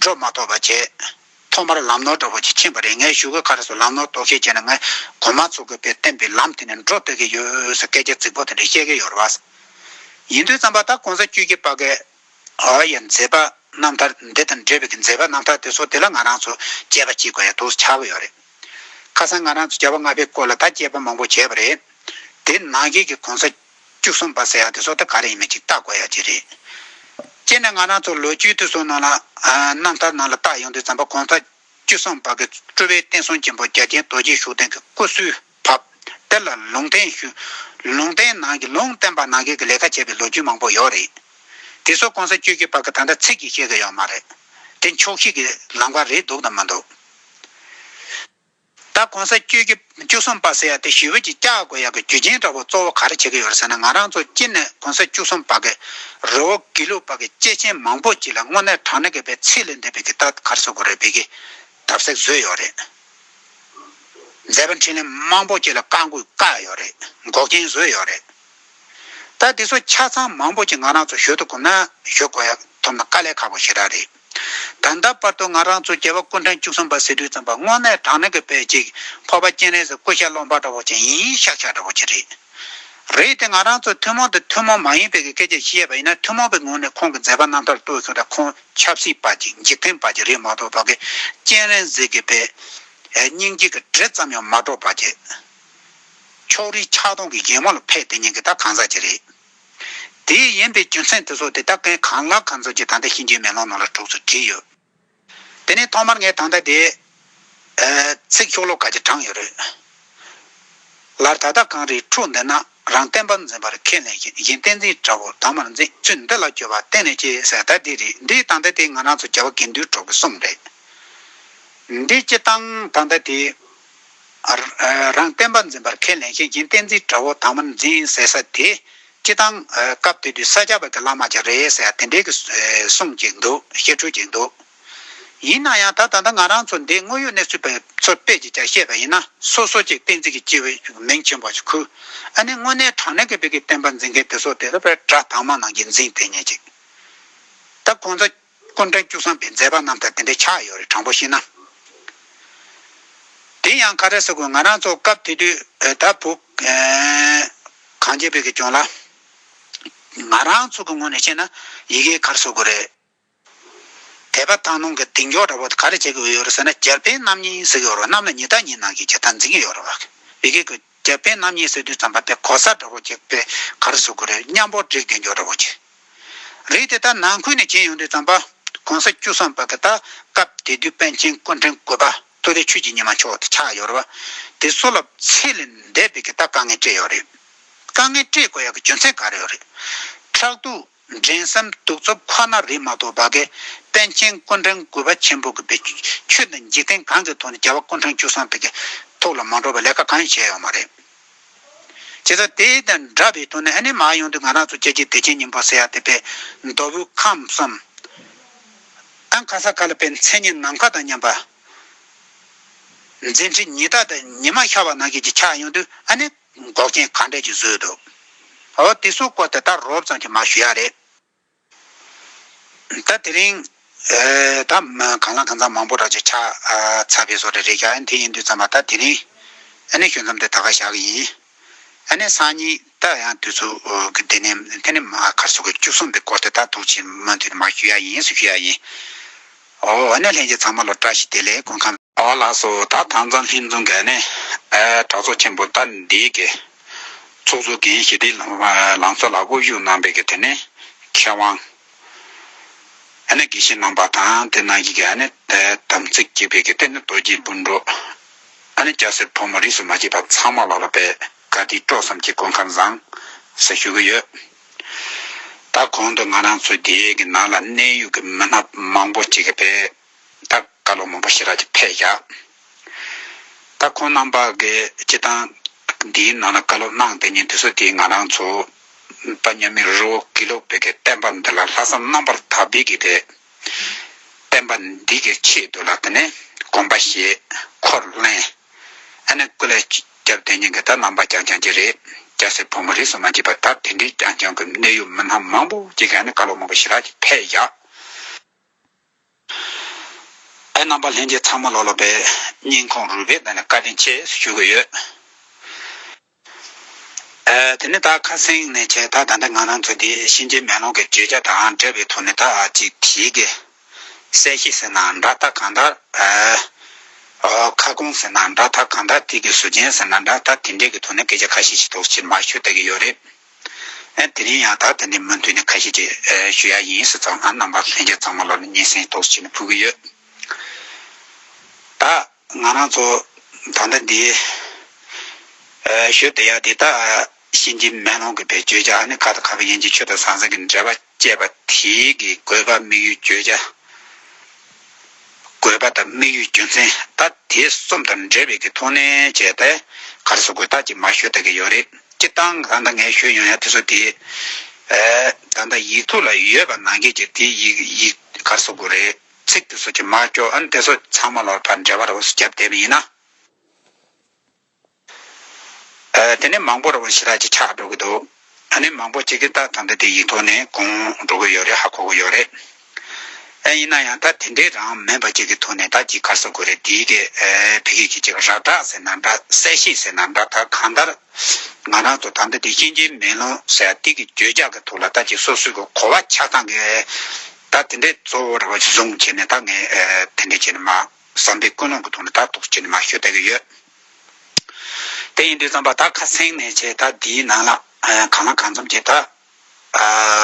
འགྲོ་མ་ཐོབ་པ་བྱས། ཐོག་མར་ལམ་ནོར་འདྲ་བོ་ཅིག་ཕྱིན་པ་རེད་ངའི་བཞུགས་སྒར་ཁར་སོ་ལམ་ནོར་དོགས་ཤེས་བྱས་ན་ངས་གོ་མ་ཚོར་དགོས་པས་བསྟན་པའི་ལམ་དེ་ནས་འགྲོ་སྡོད་ཀྱི་ཡོད་ཟེར་སྐད་ཆ་རྫིག་པོ་དེ་འདྲ་བཤད་ཀྱི་ཡོད་རེད། ཡིན་དུས་བརྩམས་པ་ད་གོང་ས་བཅུ་གཅིག་པ་ཀའོ་ཡི་མཛད་པ་རྣམ་ཐར་འདི་དང་འབྲེལ་བའི་གི་མཛད་པ་རྣམ་ཐར་དེ་ཚོ་དེ་ལ་ང་རང་ཚོ་དཔྱད་པ་ཅིག་གོ་ཡ་ཐུགས་སུ་ཆགས་ཀྱི་ཡོད་རེད། ཁ་སང་ང་རང་ཚོ་བྱ་བ་ལྔ་པའི་སྐོར་ལ་ད་དཔྱད་པ་མང་པོ་བྱས་པ་རེད། དེའི་ནང་བཞིན་གྱི་གོང་ས། བཅུ་གསུམ་པ་ཟེར་ཡག་དེ་སོག་ད་ག་རེ་ཡིན་མེད་ཅིག་བལྟ་དགོས་ཡག་ཅིག་རེད། སྤྱིར་ན་ང་རང་ཚོ་ལོ་རྒྱུས་དུས་སོག་ནང་ལ་རྣམ་ཐར་ནང་ལ་བལྟ་ཡོང་དུས་ཛམ་བྷ་གོང་ས་བཅུ་གསུམ་པ་གི་སྤྲུལ་བའི་བསྟན་སྲུང་ཆེན་པོ་རྒྱ་ཆེན་རྡོ་རྗེ་ཤུགས་ལྡན་གི་སྐུ་གསུལ་བབ་དེ་ལ་ལུང་བསྟན་ལུང་བསྟན་ནང་གི་ལུང་བསྟན་པ་ནང་གི་གི་ལས་ཀ་བྱས་པའི་ལོ་རྒྱུས་མང་པོ་ཡོག་རེད། དེ་སོག་གོང་ས་བཅུ་བཞི་པ་གི་ད་ལྟ་ཚིག་གིས་བཤད་གི་ཡོག་མ་རེད། དེ་འཁྱོག་བཤད་གི་ལམ་ཀ་རེད་འདུག་དང་མི་འདུག། ད་གོང་ས་བཅུ་གྱི་བཅུ་གསུམ་པ་ཟེར་ཡ་དེ་ཞི་བོད་ཀྱི་སྐྱ་གོ་ཡག་གི་རྒྱུ་རྐྱེན་འདྲ་བོ་གཙོ་བོ་ག་རེ་བྱེད་ཀྱི་ཡོད་རེད་ཟེར་ན་ང་རང་ཚོ་སྤྱིར་ནས་གོང་ས་བཅུ་གསུམ་པ་གི་རི་བོ་དགེ་ལུགས་པ་གི་སྐྱེས་ཆེན་མང་པོ་ཅིག་ལ་དངོས་གནས་དྲང་གནས་གི་བའི་ཚིག་ལས་འདས་པའི་གི་ཐག་གར་བཟོ་གི་རེད་བའི་གི་ཐབས་ཟེར་བཟོས་ཡོད་རེད། མཛད་པ་འཕྲིན་ལས་མང་པོ་ཅིག་ལ་བཀའ་འགུག་བཀག་ཡོད་རེད་འགོག་རྐྱེན་བཟོས་ཡོད་རེད། ད་དེ་ཚོ་ཆ་ཚང་མང་པོ་ཅིག་ང་རང་ཚོ་ཞོལ་དུ་གོམས་ན་ཞོལ་གོ་ཡག་ཐོབ་ན་དཀའ་ལས་ཁག་པོ་ཞིག་རག་རེད། ད་ལྟ་བར་དུ་ང་རང་ཚོ་རྒྱལ་བ་སྐུ་ཕྲེང་བཅུ་གསུམ་པ་ཟེར་དུས་ཙམ་པ་དངོས་གནས་དྲང་གནས་ཀྱི་བོད་ཅིག་ཕོར་པ་སྤྱན་རས་གཟིགས་སྐུ་ཞབས་ཀློག་འཕར་འདྲ་བོ་ཅན་ཡིན་ཤག་ཤག་འདྲ་བོ་ཅན་རེད། རེད་དེ་ང་རང་ཚོ་ཐུན་མོང་དང་ཐུན་མོང་མ་ཡིན་པའི་གི་སྐད་ཆ་བཤད་ཡས་པ་ཡིན་ན་ཐུན་མོང་པའི་ངོས་ནས་ཁོང་གི་མཛད་པ་རྣམ་ཐར་བསྟོད་གསོལ་དང་ཁོང་ཆབ་སྲིད་པ་ཅིག་འཇིག་རྟེན་པ་ཅིག་རེད་མ་གཏོགས་བོད་ཀྱི་སྤྱན་རས་གཟིགས་ཀྱི་པའི་སྙིང་རྗེ་གི་དྲི་ཙམ་ཡང་མ་སྒྲོག་པ་ཅིག། ཕྱོགས་རིས་ཆགས་སྡང་གི་ཡེ་མོ་ལ་ཕས་དེ་ཉིན་གྱི་ད་གང་ཟག་ཅིག་རེད། དེའི་ཡིན་པའི་རྒྱུ་མཚན་དེ་ཚོ་དེ་དག་གིས་གང་ལ་གང་འཚམ་གྱི་ད་ལྟ་ཤིང་རྒྱུའི་མེ་ལོང་ནང་ལ་གྲོགས་ཚོས་བྲིས་ཡོད། དེ་ནི་ཐོག་མར་ངས་ད་ལྟ་དེ། ཚིག་ཤོག་ལོ་ག་གྱིས་དྲངས་ཡོད་རེད། ལར་ད་ལྟ་གངས་རིའི་ཁྲོད་འདི་ན་རང་བསྟན་པ་འཛིན་པར་ཁས་ལེན་ཞིང་བཞིན་བསྟན་འཛིན་དགྲ་བོ་དར་མར་འཛིན་ཚུལ་འདི་ལ་སྐྱོ་བ་གཏན་ནས་སྐྱེ་ས་ད་དེ་རེད་འདི་ད་ལྟ་དེ་ང་རང་ཚོ་རྒྱལ་བ་དགེ་འདུན་གྲོགས་ཀྱི་གསུང་རེད། འདི་སྤྱི་བཏང་ད་ལྟ་དེ། རང་བསྟན་པ་འཛིན་པར་ཁས་ལེན་ཤེས་ཀྱིན་བསྟན་འཛིན་དགྲ་བོ་དྭངས་མར་འཛིན་ཟེར་ས་དེ་སྤྱི་དང། སྐབས་དེ་དུས་ས་སྐྱ་པ་གི་བླ་མ་ཀྱང་རེད་ཟེར་ཡ་དེ་འདྲའི་གི་གསུངས་ཀྱིན་འདུག་བཤད་ཁྲོལ་ཀྱིན་འདུག། ཡིན་ན་ཡང་ད་ད་ལྟ་ང་རང་ཚོ་འདིའི་དངོས་ཡོད་གནས་ཚུལ་པའི་ཚོ་དཔེ་ཀྱིས་ཀྱང་བཤད་པ་ཡིན་ན་སོ་སོ་ཀྱིས་བསྟན་འཛིན་གི་སྤྱི་བའི་མིང་ཆེན་པོ་ཅིག་ཁུར་ཨ་ནི་དངོས་གནས་དྲང་གནས་ཀི་བོད་ཀི་བསྟན་པ་འཛིན་མཁན་དེ་ཚོ་དེ་ཚོ་དཔེར་དགྲ་དྭངས་མ་ནང་གི་འཛིན་དེ་ཉིད་ཅིག་ད་ཁོང་ཚོ། སྐུ་འདྲ་སྐྱུག་བསམ་པའི་མཛད་པ་རྣམས་དང་དེ་འདྲའི་ཆགས་ཡོད་རེད་དྲང་པོ་ཤེས་ན། དེ་ཡང་ཁ་བྲལ་ས་ཁུལ་ང་རང་ཚོ་སྐབས་དེ་དུས་བོད་ད་བུ། གངས་ཅན་བོད་ཀྱི་ལྗོངས་ལ། ང་རང་ཚོ་གི་ངོས་ནས་བཤད་ན་ཡི་གེའི་ཁར་ཟུག་དགོས་རེད། དད་པ་དང་ནང་གི་གདེང་འཇོག་འདྲ་པོ་དེ་ག་རེ་བྱེད་ཀྱི་ཡོད་རེད་ཟེར་ན་རྒྱལ་བསྟན་རྣམ་གཉིས་ཟེར་གྱི་ཡོད་རེད་གནམ་ལ་ཉི་ལྟར་ཉི་ནང་གི་རྒྱལ་དར་འཛིན་གྱི་ཡོད་རེད་བ། ཡི་གེ་དགོས། རྒྱལ་བསྟན་རྣམ་གཉིས་སོད་དུས་བརྩམས་པ་དེ་གོ་ས་འདྲ་པོ་གཅིག་པའི་གར་བཟོ་དགོས་རེད་སྙམ་པོ་བྲིས་དགོས་མགྱོགས་འདྲ་པོ་གྱིས། རིགས་དེ་དག་ནང་ཁུལ་ནས་བྱེད་ཡོང་དུས་བརྩམས་པ་གོང་ས་བཅུ་གསུམ་པ་གི་ད་སྐབས་དེ་དུས་པཎ་ཆེན་སྐུ་འཕྲེང་དགོས་པ་སྟོད་རའི་ཆོས་ཀྱི་ཉི་མ་མཆོག་དེ་ཆགས་ཡོད་རེད་བ། དེ་སོ་ལབ་ཚེ་ལས་འདས་པའི་གི་ད་དཀའ་ངལ་སྤྲད་ཡོད་རེད། དཀའ་ངལ་སྤྲད་དགོས་ཡག་གི་རྒྱུ་མཚན་ག་རེ་ཡོད་རེད། ཕྲག་དུག། འགྲན་སེམས་གདུག་རྩུབ་ཁོ་ན་རིགས་མ་གཏོགས་བ་གའི་དཔལ་མཁྱེན་སྐུ་འཕྲེང་དགུ་པ་ཆེན་པོ་གི་པའི་ཆོས་འདི་འཇིག་རྟེན་གང་གི་ཐོག་ནས་རྒྱལ་བ་སྐུ་འཕྲེང་བཅུ་གསང་ཐིག་གི་ཐུགས་ལ་མ་འགྲོ་བར་ལས་ཀ་གང་ཡང་བྱས་ཡོད་མ་རེད། བྱས་ཙང་དེ་དང་འདྲ་བའི་དོན་ནི་ཨ་ནེ་མ་ཡོང་དུས་ང་རང་ཚོ་ཀྱེ་རྗེ་བདེ་ཆེན་སྙིང་པོ་སེ་ཡ་ཐེ་པའི་མདོ་དབུས་ཁམས་སམ། ཨན་གྷ་ས་གྷ་ལ་པའི་མཚན་ཉིད་ནམ་མཁའ་དང་མཉམ་པ། འཛིན་ཁྲི་ཉི་ལྟ་དང་ཉི་མ་ཤར་བ་ནང་བཞིན་གྱི་ཆ་ཡོང་དུས་ཨ་ནེ། འགོག་རྐྱེན་ག་འདྲས་ཀྱིས་བཟོས་འདུག་ཨོ། དེ་སོགས་སྐོར་དེ་ལྟར་རོབ་ཙམ་གྱིས་མ་ཞུ་ཡ་རེད། ད་དེ་རིང། ད་གང་ལ་གང་འཚམ་མང་པོ་ར་ཅོ་ཆ་ཚ་བས་བཟོ་རེ་རེད་ཀྱང་དེ་ཡིན་དུས་ཙམ་མ་ད་དེ་རིང། ཨ་ནེ་ཞོན་ཙམ་དེ་ད་ག་བཞག་གི་ཡིན། ཨ་ནེ་སང་ཉིན་ད་ཡང་དུས་ཚོད་ཀྱི་དེ་ནས་དེ་ནས་མ་ཁར་སོ་གི་བཅུ་གསུམ་པའི་སྐོར་དེ་ད་ཐུག་ཕྱིར་མ་མཐུད་དེ་མ་ཞུ་ཡ་ཡིན་སུ་ཞུ་ཡ་ཡིན། ཨོ་ཨ་ནེ་ལྷན་རྒྱས་ཚང་མ་ལོ་བཀྲ་ཤིས་བདེ་ལེགས་སྐུ་ཁམས། བ་ལགས་སོ་ད་དང་རྩ་ལྷིང་རྫོང་གི་ནས་གྲྭ་ཚོགས་ཆེན་པོ་ཏཱ་འདི་གི་ཚོགས་གཙོ་གིས་ཞི་བདེའི་ལང་ཚོ་ལ་དབུ་བཞུགས་གནང་པའི་དེ་ནས་མཁས་དབང་ཨ་ནེ་གེ་ཤི་གནང་པ་དང་དེ་ནང་གི་གི་ཨ་ནེ་དམ་ཚིག་བསྐྱེད་པའི་གི་དེ་ནས་རྡོ་རྗེ་སྤུན་གྲོགས་ཨ་ནེ་སྐྱ་སེར་ཕོ་མོ་རིས་སུ་མ་ཆད་པ་ཚང་མ་ལགས་ལ་པའི་བཀའ་དྲིན་སྤྲོ་བསམ་གྱི་སྐུ་མཁར་བཟང་ཟེར་ཞུ་གི་ཡོད། ད་གོང་དུ་ང་རང་ཚོ་འདི་གི་ནང་ལ་གནས་ཡུལ་གི་མི་སྣ་མང་པོ་ཅིག་པའི། བདག་བཀའ་ལུང་མང་པོ་ཞེས་ར་གྱི་ཕས་བཞག། ད་ཁོང་རྣམ་པ་གི་སྤྱི་བཏང་འདིའི་ནང་ན་བཀའ་སློབ་གནང་དེ་ཉིན་དུས་སུ་དེའི་ང་རང་ཚོ་པ་མཉམ་མེད་རི་བོ་དགེ་ལུགས་བོད་ཀྱི་བསྟན་པ་འདི་ལ་ལྷག་བསམ་རྣམ་པར་དག་པས་ཀྱི་དེ་བསྟན་པ་འདི་གི་ཆེད་དུ་ལ་དེ་ནས་དགོངས་པ་བཞེས་འཁོར་གླེང་ཨ་ནེ་སྐུ་ལས་སྐྱབས་དེ་ཉིན་གྱི་ད་ནང་པ་རྐྱང་རྐྱང་གྱི་རེད་སྐྱ་སེར་ཕོ་མོ་རིས་སུ་མ་འབྱེད་པར་ད་དེ་འདྲའི་རྐྱང་རྐྱང་གི་གནས་ཡུལ་མི་སྣ་མང་པོ་ཅིག་གི་ཨ་ནེ་བཀའ་སློབ་མང་པོ་ཞེས་ར་གྱི་ཕས་བཞག། ཨའི་རྣམ་པ་ལྷན་རྒྱས་ཚང་མ་ལོག་ལོག་པའི་སྙིང་ཁོང་རུས་པའི་ནང་ནས་བཀའ་དྲིན་ཆེས་ཞུ་གི་ཡོད། དེ་ནས་ད་ཁ་སེང་ནས་བྱས་ད་ད་ལྟ་ང་རང་ཚོ་འདི་གཤིན་རྗེའི་མེ་ལོང་གི་བརྗོད་བྱ་དང་འབྲེལ་བའི་ཐོག་ནས་ད་ཅིག་བྲིས་ཀི། གསལ་བཤད་ཟེར་ན་འདྲ་ད་གང་ལྟར་ཨོའོ། ཁ་སྐོང་ཟེར་ན་འདྲ་ད་གང་ལྟར་ཐིག་གི་ཟུར་མཆན་ཟེར་ན་འདྲ་ད་དེ་འདྲས་ཀི་ཐོག་ནས་སྐད་ཆ་ཁ་ཤས་ཤིག་དོགས་གཞིར་མ་ཞུ་བལྟ་གི་ཡོད་རེད། དེ་རིང་ཡང་དག་དེ་འདྲའི་མུ་མཐུད་ནས་ཁ་ཞེ་དྲིས་ཞུ་ཡག་ཡིན་སི་ཙང་ང་རྣམ་པ་ལྷན་རྒྱས་ཚང་མ་ལོ་ན་སྙན་སེང་ཏོག་ཅིག་ནས་ཕུལ་གྱི་ཡོད། ད་ང་རང་ཚོ་ད་ལྟ་འདི་ཞོལ་བདེ་ཡག་འདི་དག་གཤིན་རྗེ་མེ་ལོང་གི་བེད་སྤྱོད་ཅག་ནི་ཁ་དང་ཁ་གི་ཡན་གྱི་ཆོས་དང་ཟང་ཟིང་གི་འབྲེལ་བ། ཅེས་པ་དེའི་གི་དགོས་པ་དམིགས་ཡུལ་བརྗོད་བྱ། དགོས་པ་དང་དམིགས་ཡུལ་རྒྱུ་མཚན་ད་དེ་གསུམ་དང་འབྲེལ་བའི་གི་མཐོང་ནས་བྱས་ཏེ་གར་སོགས་དགོས་ཐག་ཅིག་མ་ཤོད་ད་གི་ཡོད་རེད་ཅེས་གཏང་གང་ད་ངས་ཤོད་ཡོང་ཡ་དེ་སོ་དེ་ད་ད་ཡིག་ཐུག་ལ་ཡོད་པ་ནང་སྐད་ཀྱི་དེ་ཡིག་ཡིག་གར་སོགས་དགོས་རེད་ཚིག་དེ་སོ་ཅིག་མ་ཀྱོ་ཨན་དེ་སོ་ཚང་མ་ལོར་བར་འབྲེལ་བ་རོ་སོ་རྒྱབ་བསྡད་པ་ཡིན་ན། དེ་ནས་མང་པོར་ཞི་ལྷག་ཅིག་ཆགས་འགྲོ་གི་འདུག་ད་ནི་མང་པོ་ཅིག་གིས་ད་དོན་དུ་དེ་ཡིག་ཐོག་ནས་གོང་འགྲོ་གི་ཡོད་རེད་ཧ་གོ་གི་ཡོད་རེད། ཨེ་ཡིན་ན་ཡང་ད་དེ་འདྲའི་རང་མེད་པ་ཅིག་གི་ཐོག་ནས་ད་ཅིག་ག་ཟེར་དགོས་རེད་དེའི་སྐད་བོད་ཡིག་གི་ཅིག་རགས་བསྒྲགས་ཟེར་ན་འདྲ་གསལ་བཤད་ཟེར་ན་འདྲ་ད་གང་ལྟར་ང་རང་ཚོ་ད་ལྟ་དེ་ཤེས་ཀྱིན་མེད་ལོང་ཟེར་ཡ་དེ་གི་བརྗོད་བྱ་གི་ཐོག་ལ་ད་ཅིག་སོ་སོའི་གི་གོ་བ་ཆགས་སྟངས་གིས་ད་དེ་འདྲའི་གཙོ་བོར་བཟུང་བྱས་ནས་ད་ངས་དེ་འདྲ་བྱས་ནས་མ། བསམ་པའི་ཀུན་སློང་གི་ཐོག་ནས་དག་ཐོག་སྤྱིར་ན་མ་ཤོད་ལྟ་གི་ཡོད། དེ་ཡིན་དུས་བརྩམས་པ་དག་ཁ་གསེང་ནས་བྱས་ད་འདིའི་ནང་ལ་གང་ལ་གང་འཚམ་བྱས་ད།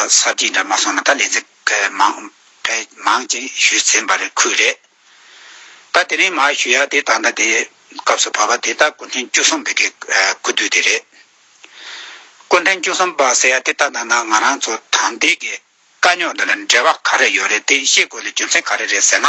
གསར་བརྗེའི་འདྲ་མ་སོང་ན་ད་ལས་ཚེ་མང་ཕལ་མང་ཅིག་ཞུས་ཚེ་འབར་བའི་ཁུལ་རེད། ད་དེ་རིང་མ་ཞུས་ཡ་དེ་ད་ལྟ་དེ་སྐབས་སུ་བབས་པ་དེ་ད་སྐུ་འཕྲེང་བཅུ་གསུམ་པའི་གི་སྐུ་དུས་དེ་རེད། སྐུ་འཕྲེང་བཅུ་གསུམ་པ་ཟེར་ཡ་དེ་ད་ནང་ན་ང་རང་ཚོ་དམ་འདས་གི་དཀའ་རྙོག་འདི་ལ་འབྲེལ་བ་ག་རེ་ཡོད་རེད་དེ་ཤེས་དགོས་ལ་རྒྱུ་མཚན་ག་རེ་རེད་ཟེར་ན།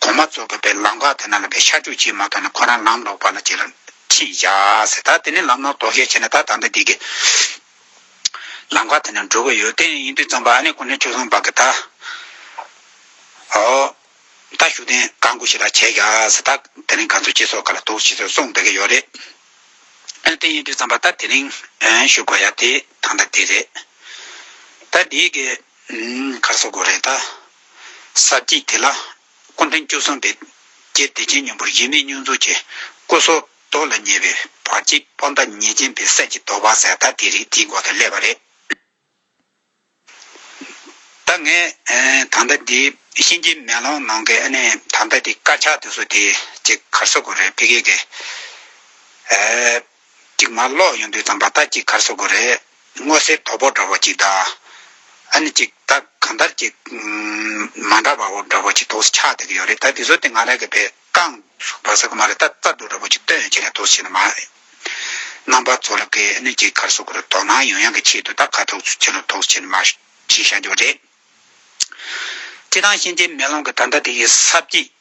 གོང་མ་རྫོགས་དགོས་པའི་ལམ་ཁ་དེ་ན་ལ་བའི་ཤར་ཕྱོགས་ཕྱིའི་མ་ཐོག་ནས་ཁོ་རང་ལམ་ལོག་པ་ལ་ཅི་ལ་ཁྲིད་བཞག་ཟེར་ད་དེ་ནས་ལམ་ལོག་དོགས་གཞས་བྱས་ན་ད་ད་ལྟ་འདི་གི་ལམ་ཁ་དེ་ན་འགྲོ་གི་ཡོད་དེ་ཡིན་དུས་ཙམ་པ་ཨ་ནེ་ཁོ་ནའི་ཆོས་བཟང་བག་གི་ད་ཨོ་ད་ཞུ་ལྡན་ག་དགོས་ཞིག་ལ་བྱས་བཞག་ཟེར་ད་དེ་རིང་ག་ཚོད་ཅི་སོགས་ག་ལ་དོགས་ཤིག་ཟེར་གསུངས་བསྡད་གི་ཡོད་རེད་དེ་ཡིན་དུས་ཙམ་པ་ད་དེ་རིང་ཞུ་དགོས་ཡ་དེ་ད་ད་དེ་རེད་ད་འདི་གི་གར་སོ་དགོས་རེད་ད་ས་བཅད་དེ་ལ། སྐུ་མཐིང་བཅུ་གསང་བའི་རྒྱས་བདེ་ཆེན་སྙིང་པོར་ཡེ་མེད་བསྙོན་རྫོགས་ཀྱི་སྐུ་སོགས་རྡོ་ལ་ཉེ་བའི་བར་གྱི་སྤོ་མདའ་ཉེས་ཅན་པའི་གསེར་གྱི་དོ་བ་ཟད་མཐའ་དེ་རིགས་འདིའི་འགོ་དང་སླེབས་པ་རེད། ད་ངས་ད་ལྟ་འདིའི་གཤིན་རྗེའི་མེ་ལོང་ནང་གི་ཨ་ནི་ད་ལྟ་འདི་དཀར་ཆག་དེ་ཚོ་དེ་ཅིག་གར་ས་དགོས་རེད་ཕི་གེ་གེ། གཅིག་མ་ཀློག་ཡོང་དུས་ཙམ་པ་ལྟར་གྱི་གར་སོ་དགོས་རེད། སྔོ་སེར་དོ་པོ་འདྲ་བོ་གཅིག་གདའ། ཨ་ནི་གཅིག་གདའ་གང་ལྟར་གཅིག། མ་འདྲ་བ་བོ་འདྲ་བོ་གཅིག་དོགས་སུ་ཆགས་བསྡད་ཀྱི་ཡོད་རེད་ད་དེ་ཚོ་དེ་སྔ་རག་གི་བེ་རྐང་ཟུག་པ་ཟེར་གི་མ་རེད་ད་རྩ་དུག་འདྲ་བོ་གཅིག་བཏོན་ཡོད་ཅེས་ལན་དུ་བྱས་ནི་མ་རེད། རྣམ་པ་ཚོ་རག་གི་ཨ་ནི་གཅིག་གར་སོ་དགོས་རེད་དོགས་སྣང་ཡོང་ཡང་གི་ཆེད་དུ་ད་ག་དོགས་སུ་ཆེ་ལོ་དོགས་སུ་ཆེ་ནི་མ་ཞེས་བྱ་རྒྱུ་རེད། སྤྱི་དང་གཤིན་རྗེའི་མེ་ལོང་གི་ད་ལྟ་དེ་གའི་ས་བརྒྱད།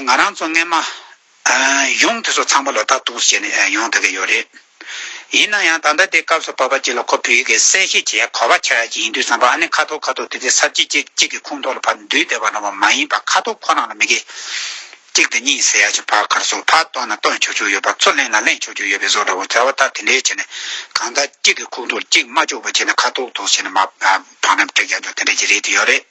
ང་རང་ཚོ་རྔན་མ་གཞུང་དེ་ཚོ་ཚང་མ་ལོ་ལྟ་རྟོག་བྱས་ནས་ཡོང་ཐུབ་ཀྱི་ཡོད་རེད། ཡིན་ན་ཡང་ད་ལྟ་དེ་སྐབས་སུ་བབ་པ་གཅིག་ལ་ཁོ་བོད་ཡིག་གིས་གསལ་བཤད་བྱེད་ཡ་གོ་བ་ཆགས་ཡ་གཅིག་ཡིན་དུས་བསམ་པ་ཨ་ནི་ཁ་ཐོག་ཁ་ཐོག་དེ་དེ་གསར་བརྗེ་ཅིག་གཅིག་གི་ཁུངས་ཐོག་ལ་ཕར་འདུས་བསྡད་པ་རྣམས་པ་མ་ཡིན་པ་ཁ་ཐོག་ཁོ་རང་ལ་མི་དགེ། གཅིག་དང་གཉིས་ཟེར་ཡ་ཆེ་ཕག་ཁར་སོགས་ཕར་བཏོན་ན་བཏོན་ཆོག་ཆོག་ཡོད་པ་ཚུར་གླེང་ན་གླེང་ཆོག་ཆོག་ཡོད་པའི་བཟོ་འདྲ་བོ་ག་བ་ལྟར་དེ་འདྲས་བྱས་ནས་གང་ལྟར་གཅིག་གི་ཁུངས་ཐོག་གཅིག་མ་ལྕོགས་པ་བྱས་ནས་ཁ་ཐོག་ཐོག་བྱས་ནས་མ་ཕངས་རམ་སྤྲེགས་ཀྱང་ཆོག་དེ་འདྲས་ཀྱི་རེད་དེ་ཡོད་རེད།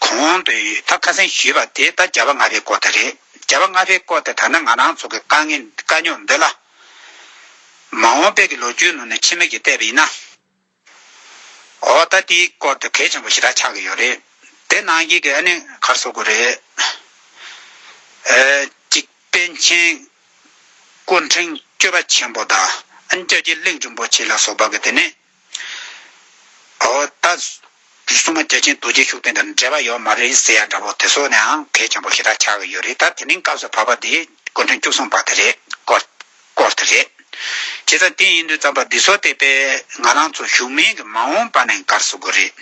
གོང་དུ་ད་ཁ་སེང་ཞུས་པ་དེ་ད་བྱ་བ་ལྔ་པའི་སྐོར་དེ་རེད། བྱ་བ་ལྔ་པའི་སྐོར་དེ་ད་ནི་ང་རང་ཚོ་གི་དཀའ་ངལ་དཀའ་རྙོག་འདི་ལ། མ་འོངས་དཔལ་གྱི་ལོ་རྒྱུས་ནང་ནས་འཆི་མེད་ཀྱི་གཏད་པ་ཡིན་ན། ཨོ་ད་དེའི་སྐོར་དེ་གལ་ཆེན་པོ་ཞེ་དྲག་ཆགས་ཀྱི་ཡོད་རེད། དེ་ནང་བཞིན་གྱི་ཨ་ནི་གར་བཟོ་དགོས་རེད། གཅིག་པཎ་ཆེན་སྐུ་ཕྲེང་བཅོ་བ་ཆེན་པོ་དང་ཨ་ནི་ལྕགས་ཀྱི་གླིང་རིན་པོ་ཆེ་ལ་སོགས་པ་གི་དེ་ནི། ཨོ། ད་སྲུང་མ་རྒྱལ་ཆེན་རྡོ་རྗེ་ཤུགས་ལྡན་དང་འབྲེལ་བ་ཡོད་མ་རེད་ཟེར་ཡ་འདྲ་བོ་དེ་ཚོ་ནའང་གལ་ཆེན་པོ་ཞེ་དྲག་ཆགས་ཀྱི་ཡོད་རེད་ད་དེ་མིན་སྐབས་སུ་བབ་པ་འདི་སྐུ་མགྲོན་བཅུ་གསུམ་བ་དེ་རེད་སྐོར་སྐོར་དེ་རེད། བྱས་ཙང་དེ་ཡིན་དུས་རྩམ་པ་འདི་ཚོ་དེད་པས་ང་རང་ཚོ་བཞུགས་མིན་གྱི་མ་འོངས་པ་ནས་འགར་བཟོ་དགོས་རེད།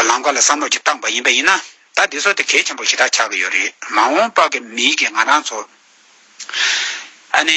ལམ་ཁ་ལ་བསམ་བློ་གཅིག་བཏང་བ་ཡིན་པ་ཡིན་ན་ད་འདི་ཚོ་དེ་གལ་ཆེན་པོ་ཞེ་དྲག་ཆགས་ཀྱི་ཡོད་རེད་མ་འོངས་པ་གི་མིན་གྱི་ང་རང་ཚོ་ཨ་ནེ།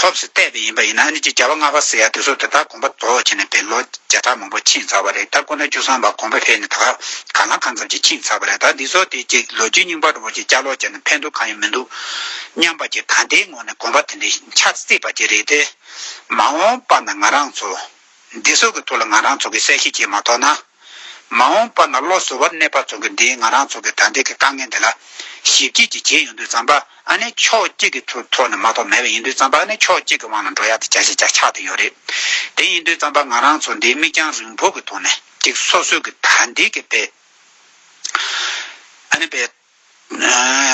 ལྷོབས་སུ་བལྟས་པས་ཡིན་པ་ཡིན་ན་ཨ་ནི་ཅི་བྱ་བ་སྔ་བ་ཟེར་ཡ་དེ་ཚོ་དེ་དག་གོམ་པ་དོག་ཆེ་ནས་པའི་ལོ་བརྒྱ་ཕྲག་མང་པོ་ཕྱིན་ཚར་བ་རེད་ད་ཁོ་ན་བཅུ་གསུམ་པ་གོམ་པ་བྷེ་ནི་ད་ག་ལ་གང་ཙམ་ཅིག་ཕྱིན་ཚར་བ་རེད་ད་འདི་ཚོ་དེ་ཅིག་ལོ་རྒྱུས་རྙིང་པ་འགྲོ་བ་ཅིག་བསྐྱར་ལོག་བྱས་ན་ཕན་ཐོག་གང་ཡང་མི་འདུག་སྙམ་པ་ཅིག་ད་ལྟའི་ངོ་ནས་གོམ་པ་དེ་འདྲའི་འཆར་སྲིད་པ་ཅིག་རེད་དེ། མ་འོངས་པ་ན་ང་རང་ཚོ། འདི་ཚོ་གི་ཐུགས་ལ་ང་རང་ཚོ་གི་གསལ་བཤད་བྱེད་མ་ཐོག་ན། མ་འོངས་པ་ན་བློ་གཟུ་བར་གནས་པ་ཚོ་གི་འདིའི་ང་རང་ཚོ་གི་ད་ལྟའི་གི་དཀའ་ངལ་འདི་ལ། ཞིབ་རྒྱས་ཀྱི་བྱེད་ཡོང་དུས་ཙམ་པ་ཨ་ནི་ཕྱོགས་གཅིག་གི་ཐུགས་ཐོག་ནས་མ་ཐོག་མེད་པ་ཡིན་དུས་ཙམ་པ་ཨ་ནི་ཕྱོགས་གཅིག་གི་དབང་ལ་འགྲོ་ཡག་དེ་བྱ་ཞེས་བྱ་ཆགས་དུ་ཡོད་རེད། དེ་ཡིན་དུས་ཙམ་པ་ང་རང་ཚོ་འདིའི་མིག་རྒྱང་རིང་བོ་གི་ཐོག་ནས་ཅིག་སོ་སོའི་གི་ད་འདིའི་གི་དཔེ། ཨ་ནི་དཔེ།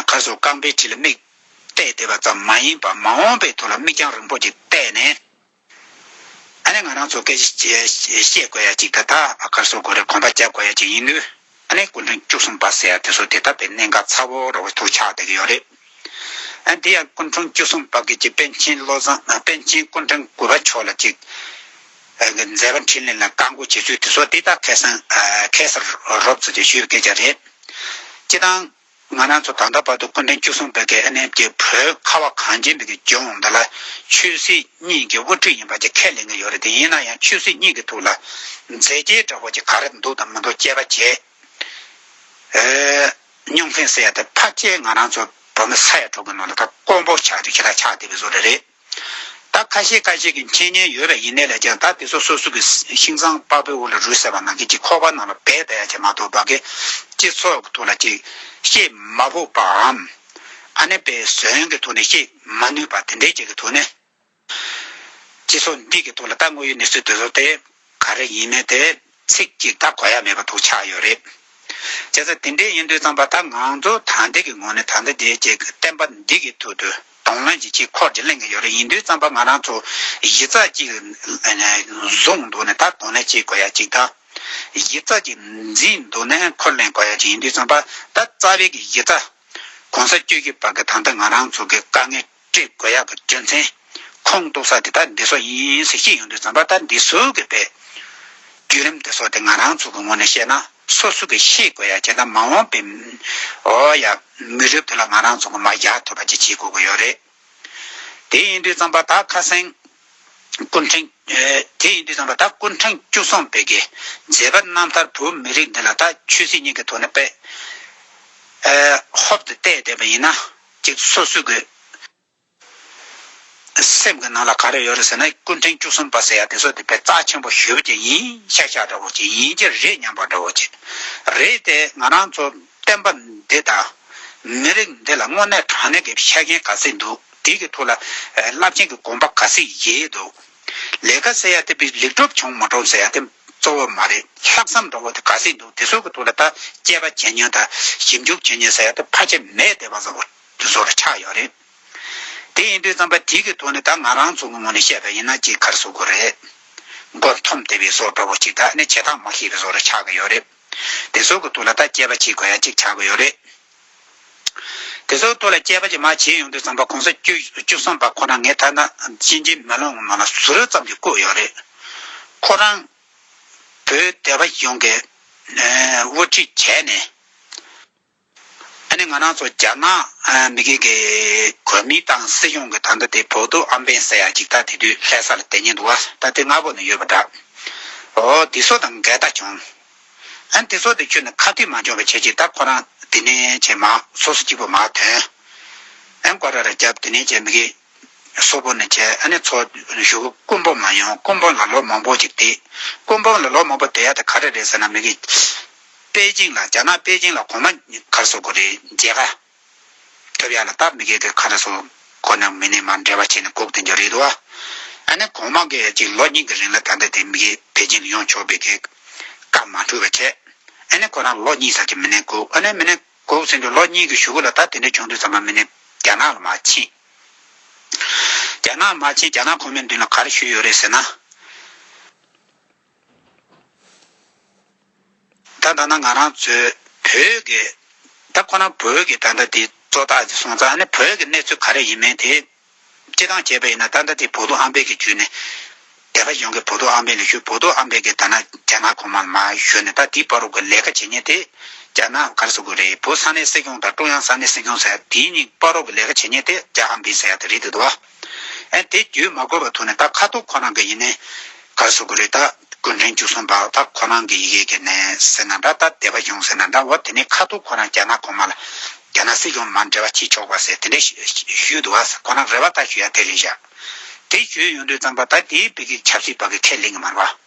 ཁ་སོ་རྐང་པའི་ཁྲི་ལ་མིག་གཏད་བསྡད་པ་ཙམ་མ་ཡིན་པར་མ་འོངས་པའི་ཐུགས་ལ་མིག་རྒྱང་རིང་བོ་ཅིག་གཏད་ནས། ཨ་ནི་ང་རང་ཚོ་སྐད་བཤད་དགོས་ཡ་ཅིག་ད་ད་ཨ་ཁར་སོ་གོ་རེ་གོམ་པ་རྒྱབ་དགོས་ཡ་ཅིག་ཡིན་དུས་ཨ་ནི་སྐུ་མགྲོན་བཅུ་གསུམ་པ་ཟེར་ཡ་དེ་ཚོ་དེ་ལྟ་བའི་གནད་འགག་ཚ་བོ་རོ་བོ་ཐུག་ཆགས་བསྡད་ཀྱི་ཡོད་རེད་ཨ་འདི་ཡང་སྐུ་མགྲོན་བཅུ་གསུམ་པ་གི་ཅིག་པན་ཆེན་བློ་བཟང་པན་ཆེན་སྐུ་མགྲོན་དགུ་པ་མཆོག་ལ་ཅིག་གི་མཛད་པ་འཕྲིན་ལས་ལ་བཀའ་འགུག་བྱེད་ཚུལ་དེ་ཚོ་དེ་ད་ཁེ་སང་ཁེ་སར་རོབ་ཚོ་དེ་ཞུས་པའི་སྐད་ཆ་རེད་སྤྱི་དང། ང་རང་ཚོ་ད་ལྟ་བར་དུ་སྐུ་ཕྲེང་བཅུ་གསུམ་པའི་དགེ་ལས་ནས་དེ་བོད་ཁ་བ་གངས་ཅན་པའི་དགེ་སྦྱོང་འདི་ལ་ཆོས་སྲིད་གཉིས་ཀྱི་དབུ་ཁྲིད་ཡིན་པ་ཅིག་ཁས་ལེན་གྱི་ཡོད་རེད་དེ་ཡིན་ན་ཡང་ཆོས་སྲིད་གཉིས་ཀྱི་ཐུགས་ལ་མཛད་རྗེས་འདྲ་བོ་ཅིག་ག་རེ་འདུག་དང་མི་འདུག་དཔྱད་པ་བྱེད་མྱོང་མཁན་བསལ་ཡ་དེ་ཕར་བཅད་ང་རང་ཚོ་བོད་མི་ས་ཡ་དྲུག་གི་ནང་ལ་ད་དཀོན་པོ་ཆགས་དུས་ཁྱེད་ལ་ཆགས་བསྡད་པའི་བཟོ་རེ་རེད། ད་ཁ་ཤས་ཁ་ཤས་ཀྱི་མཁྱེན་ཉན་ཡོད་པ་ཡིན་ནས་ལས་ཀྱང་ད་དེ་ཚོ་སོ་སོ་གི་ཤིང་ཚང་དཔའ་བོའི་དབུ་ལ་རུས་ཟེར་བ་ནང་གི་གྱི་ཁོག་པ་ནང་ལ་བད་བད་ཡ་ཆེ་མ་ཐོག་བ་གི་སྤྱི་ཚོགས་ཐོག་ལ་ཅིག་བཤད་མ་ཕོག་པའམ། ཨ་ནེ་པའི་ཟོན་གི་ཐོག་ནས་བཤད་མ་ནུས་པ་དེ་འདྲའི་ཅིག་གི་ཐོག་ནས། སྤྱི་ཚོགས་འདི་གི་ཐོག་ལ་ད་དངོས་ཡོད་གནས་ཚུལ་དེ་ཚོ་དེ། ག་རེ་ཡིན་མིན་དེ་ཚིག་གཅིག་ད་གོ་ཡ་མེད་པ་དོག་ཆགས་ཡོད་རེད། བྱས་ཙང་དེ་འདྲའི་ཡིན་དུས་ཙང་པ་ད་ང་ཚོ་ད་འདི་གི་ངོ་ནས་ད་འདི་འདི་ཅེས་བསྟན་པ་འདི་གི་ཐུག་དུ་དོང་ལོན་གྱི་ཅིག་འཁོར་གྱི་གླེང་གི་ཡོད་རེད་ཡིན་དུས་ཙང་པ་ང་རང་ཚོ་གཞི་རྩ་གཅིག་བཟུང་འདུག་ནས་ད་དོང་ལེན་བྱེད་དགོས་ཡ་ཅིག་ད་གཞི་རྩ་གཅིག་འཛིན་འདུག་ནས་འཁོར་གླེང་དགོས་ཡ་ཅིག་ཡིན་དུས་ཙང་པ་ད་རྩ་བའི་གི་གཞི་རྩ ྋགོང་ས་སྤྱོད་ཀྱི་བར་གི་ད་འདི་ང་རང་ཚོ་གི་དཀའ་ངལ། བཀྲིས་དགོས་ཡག་གི་རྒྱུ་མཚན། ཁོང་གཏུག་ས་དེ་དག་འདི་སོགས་ཡིན་ཟེར་གྱི་ཡོང་དུས་རྩམ་པ་ལྟར་འདི་ཟུག་གི་རེད། བརྒྱུད་རིམ་འདི་སོགས་དེ་ང་རང་ཚོ་གི་ངོ་ནས་བཤད་ན་སོ་སོ་གི་ཤེས་དགོས་ཡག་བྱས་ན་མ་འོངས་པའི་འོ་ཡ་མི་རབས་དེ་ལ་ང་རང་ཚོ་གི་མ་རྒྱག་ཐུབ་པ་ཅིག་བྱེད་དགོས་ཀྱི་ཡོད་རེད། དེ་ཡིན་དུས་རྩམ་པ་དག་ཁ་སེང། སྐུ་འཕྲེང། དེ་ཡིན་དུས་རྩམ་པ་དག་སྐུ་འཕྲེང་བཅུ་གསུམ་སྤེལ་གི་མཛད་པ་རྣམ་ཐར་བོད་མི་རིགས་འདི་ལ་ད་ཆོས་སྲིད་གཉིས་ཀྱི་ཐོག་ནས་པད་ཧོབ་ཏུ་བལྟས་བསྡད་པ་ཡིན་ན། གཅིག་ཏུ་སོ་སོའི་དགོས། སེམས་ཀྱི་ནང་ལ་ག་རེ་ཡོད་རེད་ཟེར་ན་ཀུན་ཕྲན་བཅུ་གསུམ་པ་ཟེར་ཡ་དེ་སོགས་དེ་བས་རྩ་ཆེན་པོ་ཞུ་བ་ཅིག་ཡིན་ཤག་ཤག་འདྲ་བོ་ཅིག་ཡིན་གྱི་རེད་སྙམ་པ་འདྲ་བོ་ཅིག་རེད་དེ་ང་རང་ཚོ་བསྟན་པ་འདི་དང། མི་རིགས་འདི་ལ་དངོས་གནས་དྲང་གནས་ཀྱི་ཤ་རྒྱན་ག་ཚད་འདུག་དེ་གི་ཐུགས་ལ་རླབས་ཆེན་གྱི་དགོངས་པ་ག་ཚད་ཡེ་འདུག། ལས་ཀ་ཟེར་ཡ་དེ་པའི་ལེགས་གྲུབ་བྱུང་མ་གྲོངས་ཟེར་ཡ་དེ་གཙོ་བོ་མ་རེད་ལྷག་བསམ་འདྲ་བོ་དེ་ག་ཟིག་འདུག་དེ་ཚོ་གི་ཐུགས་ལ་ད་དཔྱད་པ་བྱེད་ཉོན་ད་ཞིབ་འཇུག་བྱེད་ཉོན་ཟེར་ཡ་དེ་ཕ་ཆེ་མས་བདེ་བ་བཟང་བོ་དེ་ཚོ་རུ་ཆགས་ཡོད་རེད། དེ་ཡིན་དུས་བརྩམས་པ་དེ་གི་ཐུགས་ནས་ད་ང་རང་ཚོ་གི་ངོ་ནས་བཤད་པ་ཡིན་ན་ཅིག་གར་ཟུག་གི་རེད། མགོ་འཐོམ་དེ་བའི་བཟོ་འདྲ་བོ་ཅིག་ད་ནི་བྱེད་སྟངས་མ་ཤེས་པའི་བཟོ་རུ་ཆགས་གི་ཡོད་རེད། དེ་ཚོ་གི་ཐུགས་ལ་ད་དཔྱད་པ་བྱེད་དགོས་ཡ་ཅིག་ཆགས་གི་ཡོད་རེད། དེ་སོགས་ཐུགས་ལ་བཅས་པ་ཅི་མ་བྱས་ཡོང་དུས་བསམ་པ་གོང་ས་བཅུ་གསུམ་པ་ཁོ་རང་ངའི་ཐ་ན་གཅིག་འབྲི་མ་ལོང་ངོ་མ་ལ་ཟུར་ཙམ་གྱིས་བཀོད་ཡོད་རེད། ཁོ་རང་བོད་སྡེ་བ་ཡོངས་ཀྱི་དབུ་ཁྲིད་བྱས་ནས། ད་ནི་ང་རང་ཚོ་རྒྱ་ནག་མི་སྒེར་གྱི་གོ་མིང་དང་སྲིད་གཞུང་གི་ད་ལྟ་དེ་བོགས་འདུག་ཨམ་བན་ཟེར་ཡ་གཅིག་ད་དེ་དུས་ལྷས་ས་ལ་དེད་ཉེན་འདུག་ཨ་ད་དེ་སྔ་བོ་ནས་ཡོད་པ་འདྲ། འོ་འདི་སོགས་དང་འགལ་ཟླ་བྱུང། ཨན་དེ་སོགས་དེ་ཁྱོད་ནི་ཁ་གཏད་མ་འཇོག་པའི་ཆེད་ཀྱི་ད་ཁོ་རང་དེ་ནས་བྱས་མ་སོ་སོ་གཅིག་པོ་མ་དོན། ཨན་བཀའ་ར་ར་རྒྱབ་དེ་ནས་བྱས་མི་གི། སོ་པོ་ནས་བྱས་ཨ་ནི་ཚོ་བཞུགས་སྐུ་འབུམ་མ་ཡོང་སྐུ་འབུམ་ལ་ལོ་མང་པོ་ཅིག་བསྡད། སྐུ་འབུམ་ལ་ལོ་མང་པོ་བསྡད་ཡ་དེ་ག་རེ་རེད་ཟེར་ན་མི་གི། པེ་ཅིང་ལ་རྒྱ་ནག་པེ་ཅིང་ལ་གོང་མ་གར་སོ་དགོས་རེད་མཇལ་ཁ། ཐོད་ཡར་ལ་སྟབས་མི་དགེ་དེ་ཁ་ན་སོང། ཁོ་ནི་མི་ནས་མར་འབྲལ་བར་བྱས་ནས་ལྐོག་ཏུ་འགྱོ་རེད་འདུག་ཨ། ནི་གོང་མ་གི་གཅིག་ལོ་གཉིས་ཀྱི་རིང་ལ་ད་ལྟ་དེ་མི་དགེ་བེ་ཅིང་ལ་ཡོང་ཆོག་པའི་དེ། སྐབས་མ་འཁྲུལ་བ་བྱས། ཨ་ནི་ཁོ་རང་ལོ་གཉིས་ཟག་གི་མི་ནས་བསྒུགས་ཨ་ནི་མི་ནས་བསྒུགས་ཟིན་དུས་ལོ་གཉིས་ཀྱི་ཞུ་གུ་ལ་ད་དེ་འདྲ་བྱུང་དུས་ཚང་མ་མི་ནས་རྒྱ་ནག་ལ་མ་ཕྱིན། རྒྱ་ནག་མ་ཕྱིན་རྒྱ་ནག་ཁོ་མོའི་མདུན་ལ་ག་རེ་ཞུས་ཡོད་རེད་ཟེར་ན། ད་ལྟ་ན་ང་རང་ཚོའི་བོད་ཀྱི་ད་ཁོ་ན་བོད་ཀྱི་ད་ལྟ་དེ་གཙོ་བདག་གི་སོང་ཙང་ནི་བོད་ཀྱི་གནས་ཚུལ་ག་རེ་ཡིན་མིན་དེ་སྤྱི་དང་བྱས་པ་ཡིན་ན་ད་ལྟ་དེ་བོ་དོ་ཨམ་བེ་གི་བརྒྱུད་ནས་དེ་ག་གཞུང་གི་བོ་དོ་ཨམ་བེ་ལ་ཞུས་བོ་དོ་ཨམ་བེ་གི་ད་ན་རྒྱ་ནག་གོང་མ་ལ་མ་ཞུས་ནས་ད་དེའི་བ་རོ་གི་ལས་ཀ་བྱེད་ཉེན་དེ་རྒྱ་ནག་གར་ས་དགོས་རེད་བོད་ས་གནས་སྲིད་སྐྱོང་དང་ཀྲུང་དབྱང་ས་གནས་སྲིད་སྐྱོང་ཟེར་ཡ་དེའི་གཉིས་བ་རོ་གི་ལས་ཀ་བྱེད་ཉེན་དེ་རྒྱ་ཨམ་བེ་ཟེར་ཡ་དེ་རེད་འདུག་དོ། ཨེ། དེ་བརྒྱུད་མ་དགོས་པ་ཐོག་ནས་ད་ཁ་ཐུག་ཁོ་རང་གི་ཡིན་ནའི། ག་སོ་གུ་རེད་ད་གུན་ཁྲན་བཅུ་གསུམ་པའོ་ད་ཁོ་རང་གི་ཡི་གེ་གེ་ནའི་ཟེར་ན་འདྲ་ད་དད་པ་ཡོང་ཟེར་ན་འདྲ་འོ་དེ་ནས་ཁ་ཐུག་ཁོ་རང་རྒྱ་ནག་གོང་མ་ལ། རྒྱ་ནག་སྲིད་སྐྱོང་མར་འབྲེལ་བ་བྱེད་ཆོག་པ་ཟེར་དེ་འདྲས་ཞུས་འདུག་ཨ་ཟེར་ཁོ་རང་རེ་བ་ད་ཞུ་ཡ་དེ་རེད་བཞག། དེ་ཞུས་ཡོང་དུས་ཙང་པ་ད་དེའི་བོད་ཀྱི་ཆབ་སྲིད་བར་གྱི་ཁས་ལེན་གྱི་མར་བ།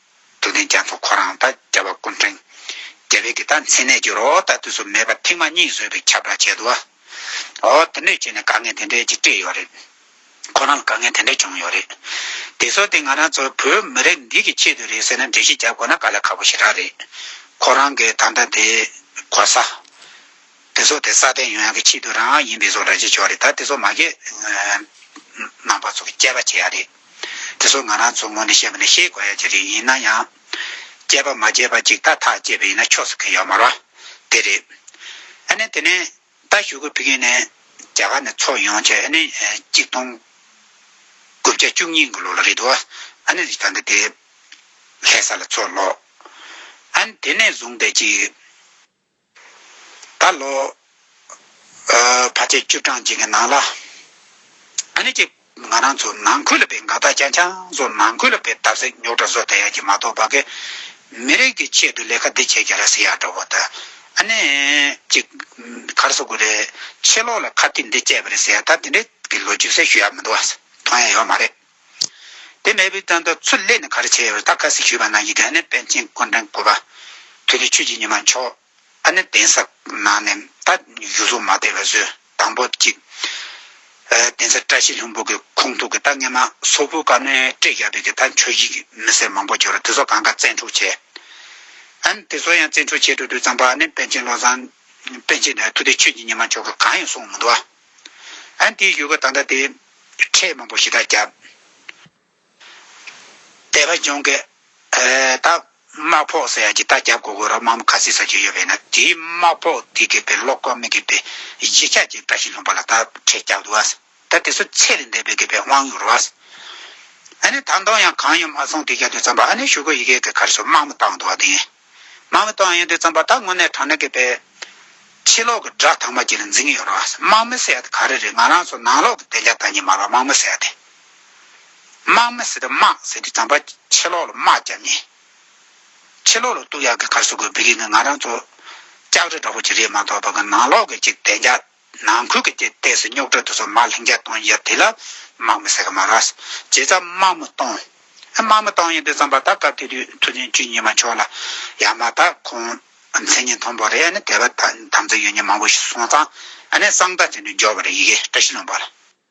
དུ་ནི་རྒྱ་མཚོ་ཁོ་རང་དང་རྒྱལ་བ་ཀུན་འཕྲེང། རྒྱལ་བའི་གི་དང་མཚན་གནས་ཀྱི་རོ་དང་དུས་སུ་མེད་པར་ཐེངས་མ་གཉིས་བཟོས་པའི་ཁྱབ་བསྒྲགས་བྱས་འདུག་ཨོ། དེ་འདྲས་བྱས་ནས་དཀའ་ངལ་དེ་འདྲས་ཀྱིས་སྤྲད་ཡོད་རེད། ཁོ་རང་ལ་དཀའ་ངལ་དེ་འདྲས་བྱུང་ཡོད་རེད། དེ་ཚོ་དེ་ང་རང་ཚོ་བོད་མི་རིགས་འདི་གི་ཆེད་དུ་རེད་ཟེར་ན་འགྲེལ་བཤད་བརྒྱབ་དགོས་ན་དཀའ་ལས་ཁག་པོ་ཞིག་རག་རེད། ཁོ་རང་གི་ད་ལྟ་དེ་གོ་ས། དེ་ཚོ་དེ་སྲ་བརྟན་ཡོང་ཡག་གི་ཆེད་དུ་རང་ཡིན་པའི་བཟོ་འདྲ་བྱེད་ཆོག་རེད་ད་དེ་ཚོ་མ་ཁེ། ནང་པ་ཚོ་གི་དཔྱད་པ་བྱེད་ཡག་རེད། དེ་ཚོ་ང་རང་ཚོ་ངོ་ནས་བཤད་པ་ནི་ཤེས་དགོས་ཡ་གྱི་རིགས་ཡིན་ན་ཡང། སྐྱེས་པ་མ་སྐྱེས་པ་ཅིག་ཐ་ཐག་སྐྱེས་པ་ཡིན་ན་ཆོས་སུ་ཁེལ་ཡོད་མ་རོ། དེ་རེད། ཨ་ནི་དེ་ནས་ད་ཞུ་གུ་ཕི་གིན་ནས་རྒྱ་གར་ནས་ཚོགས་ཡོང་ཆེད་ཨ་ནི་གཅིག་སྟོང་དགུ་བརྒྱ་བཅུ་གཉིས་གི་ལོ་ལ་རེད་འདུག་ཨ་ནི་རི་ཐང་གི་དེ་ལྷས་ས་ལ་ཚོགས་ལོག་ཨ་ནི་དེ་ནས་བཟུང་སྟེ་ཅིག། ད་ལོ་བར་ཆད་བཅུ་གྲངས་ཅན་གྱི་ནང་ལ་ཨ་ནེ་ཅི་ང་རང་ཚོ་ནང་ཁུལ་ལ་བའི་འགག་རྟགས་ཅན་ཆང་བཟོ་ནང་ཁུལ་ལ་བའི་བརྡབ་གསིག་ཉོག་དྲ་བཟོ་དེ་ཡང་གྱི་མ་གཏོགས་བ་གི་མི་རིགས་ཀྱི་ཆེད་དུ་ལས་ཀ་འདི་བྱེད་ཀྱི་རེད་ཟེར་ཡག་འདྲ་བོ་དང་ཨ་ནེ་ཅི་གར་བཟོ་དགོས་རེད་ཕྱི་ལོག་ལ་ཁ་ཏིག་འདི་སྤྱད་པ་རེད་ཟེར་ཡག་ད་དེ་འདྲའི་གི་ལོ་རྒྱུས་གསལ་ཞུ་ཡག་མི་འདུག་ཨ་མཐོང་ཡ་ཡོད་མ་རེད། དེ་མེད་པའི་དོན་དུ་ཚུར་སླེབས་ནས་ག་རེ་བྱས་ཡོད་ལྟ་ཁ་ཟིག་ཞུས་པ་ན་ཡི་དྭགས་ནི་དཔལ་ཆེན་སྐུ་འཕྲེང་བསྐོར་བ། དེ་ནི་ཆོས་ཀྱི་ཉི་མ་མཆོག། ཨ་ནི་གདན་ས་ནང་ནས་ད་ཡུལ་ལྷུང་མ་དེ་ལ་བཟོས་དང་པོ་གཅིག། གདན་ས་བཀྲ་ཤིས་ལྷུན་པོ་གི་ཁུངས་ཐུག་གི་ད་སྔས་མ་སོ་བུ་ག་ནི་བཀྲས་རྒྱ་བོད་ཀྱི་ད་ཆོས་གཞིས་ཀྱི་མི་སེར་མང་པོ་གྱུར་རོ་དེ་ཚོ་གང་ག་བཙན་འཕྲོག་བྱས། ཨ་ནི་དེ་ཚོ་ཡང་བཙན་འཕྲོག་བྱས་འགྲོ་དུས་ཙམ་པོ་ཨ་ནི་དཔལ་ཆེན་བློ་བཟང། དཔལ་ཆེན་ནི་ཐུགས་ཏེ་ཆོས་ཀྱི་ཉི་མ་མཆོག་གི་གང་ཡང་གསུངས་མི་འདུག་ཨ། ཨན་ཏིའི་ཡུལ་ག་ད་ལྟ་དེ། ཁྲེས་མང་པོ་ཞེ་དྲག་བརྒྱབ། དད་པ་སྦྱོང་གི། ད། དམག་ཕོགས་ཟེར་ཡ་གྱི་ད་བརྒྱབ་གོ་དགོས་རོགས་དམག་མི་ག་ཚིག་ཟ་རྒྱུ་ཡོད་པས་ན་དེའི་དམག་ཕོགས་དེ་དགོས་པའི་བློ་ཁོག་མི་དགོས་པའི་གཞིས་ཆགས་ཀྱི་བཀྲ་ཤིས་ལུང་པ་ལ་ད་ཁྲེས་བརྒྱག་འདུག་ཨ། ད་དེ་ཚོ་ཚད་ལས་འདས་པའི་དགོས་པའི་དབང་ཡོད་རོགས་ཨ། ཨ་ནི་ད་མདོང་ཡང་གང་ཡང་མ་སོང་དེ་རྒྱབ་དུས་ཙམ་པ་ཨ་ནི་ཞུ་སྒོ་ཡི་གེ་གི་གར་སོ་དམག་མི་བཏང་འདུག་ཨ་དེ་ཡིན། དམག་མི་དང་ཡོན་ཏན་རྩམ་པ་དག་དངོས་གནས་དྲང་གནས་ཀྱི་པའི། ཕྱི་ལོག་གི་སྒྲ་དག་མ་གྱིས་ལ་འཛིན་གྱི་ཡོད་རོ། དམག་མི་སེར་དེ་ག་རེ་རེད་ང་རང་ཚོ་ནང་ལོག་གི་བདེ་འཇགས་བདག་ཉིད་མ་ལ་དམག་མི་སེར་དེ། དམག་མི་སེར་དེ་དམག་སེར་དེ་རྩམ་པ་ཕྱི་ལོག་ལ་དམག་བརྒྱབ་ནས། ཕྱི་ལོག་ལ་གཏུག་ཡག་གི་གར་སོ་དགོས་བི་རིག་ནི་ང་རང་ཚོ། ལྕགས་རི་འདྲ་བོ་ཅིག་རེད་མ་གཏོགས་བདག་གི་ནང་ལོག་གི་ཅིག་བདེ་འཇགས། ནང་ཁུལ་གྱི་དེ་ལྟས་སུ་རྙོག་དྲ་དུ་སོ་མ་ལྷིང་འཇགས་གཏོང་ཡབ་དེ་ལ་དམག་མི་ཟེར་གི་མ་ར། བྱས་ཙང་དམག་མི་གཏོང། དམག་མི་གཏོང་ཡིན་དུས་ཙམ་པ་ད་སྐབས་དེ་དུས་ཐུགས་འཛིན་ཅུས་གཉིས་མ་ཆོག་ལ། ཡང་མ་ད་ཁོང་མཚན་ཉིད་མཐོང་པོ་རེད་ནི་དེ་བ་ད་དམ་ཚིག་ཡོད་ཉེས་མང་པོ་ཞིག་སོང་ཙང་ཨ་ནས་གསང་བདག་ཅན་དུ་འཇོག་པ་རེད་ཡི་གེ་བཀྲ་ཤིས་ལུང་པར།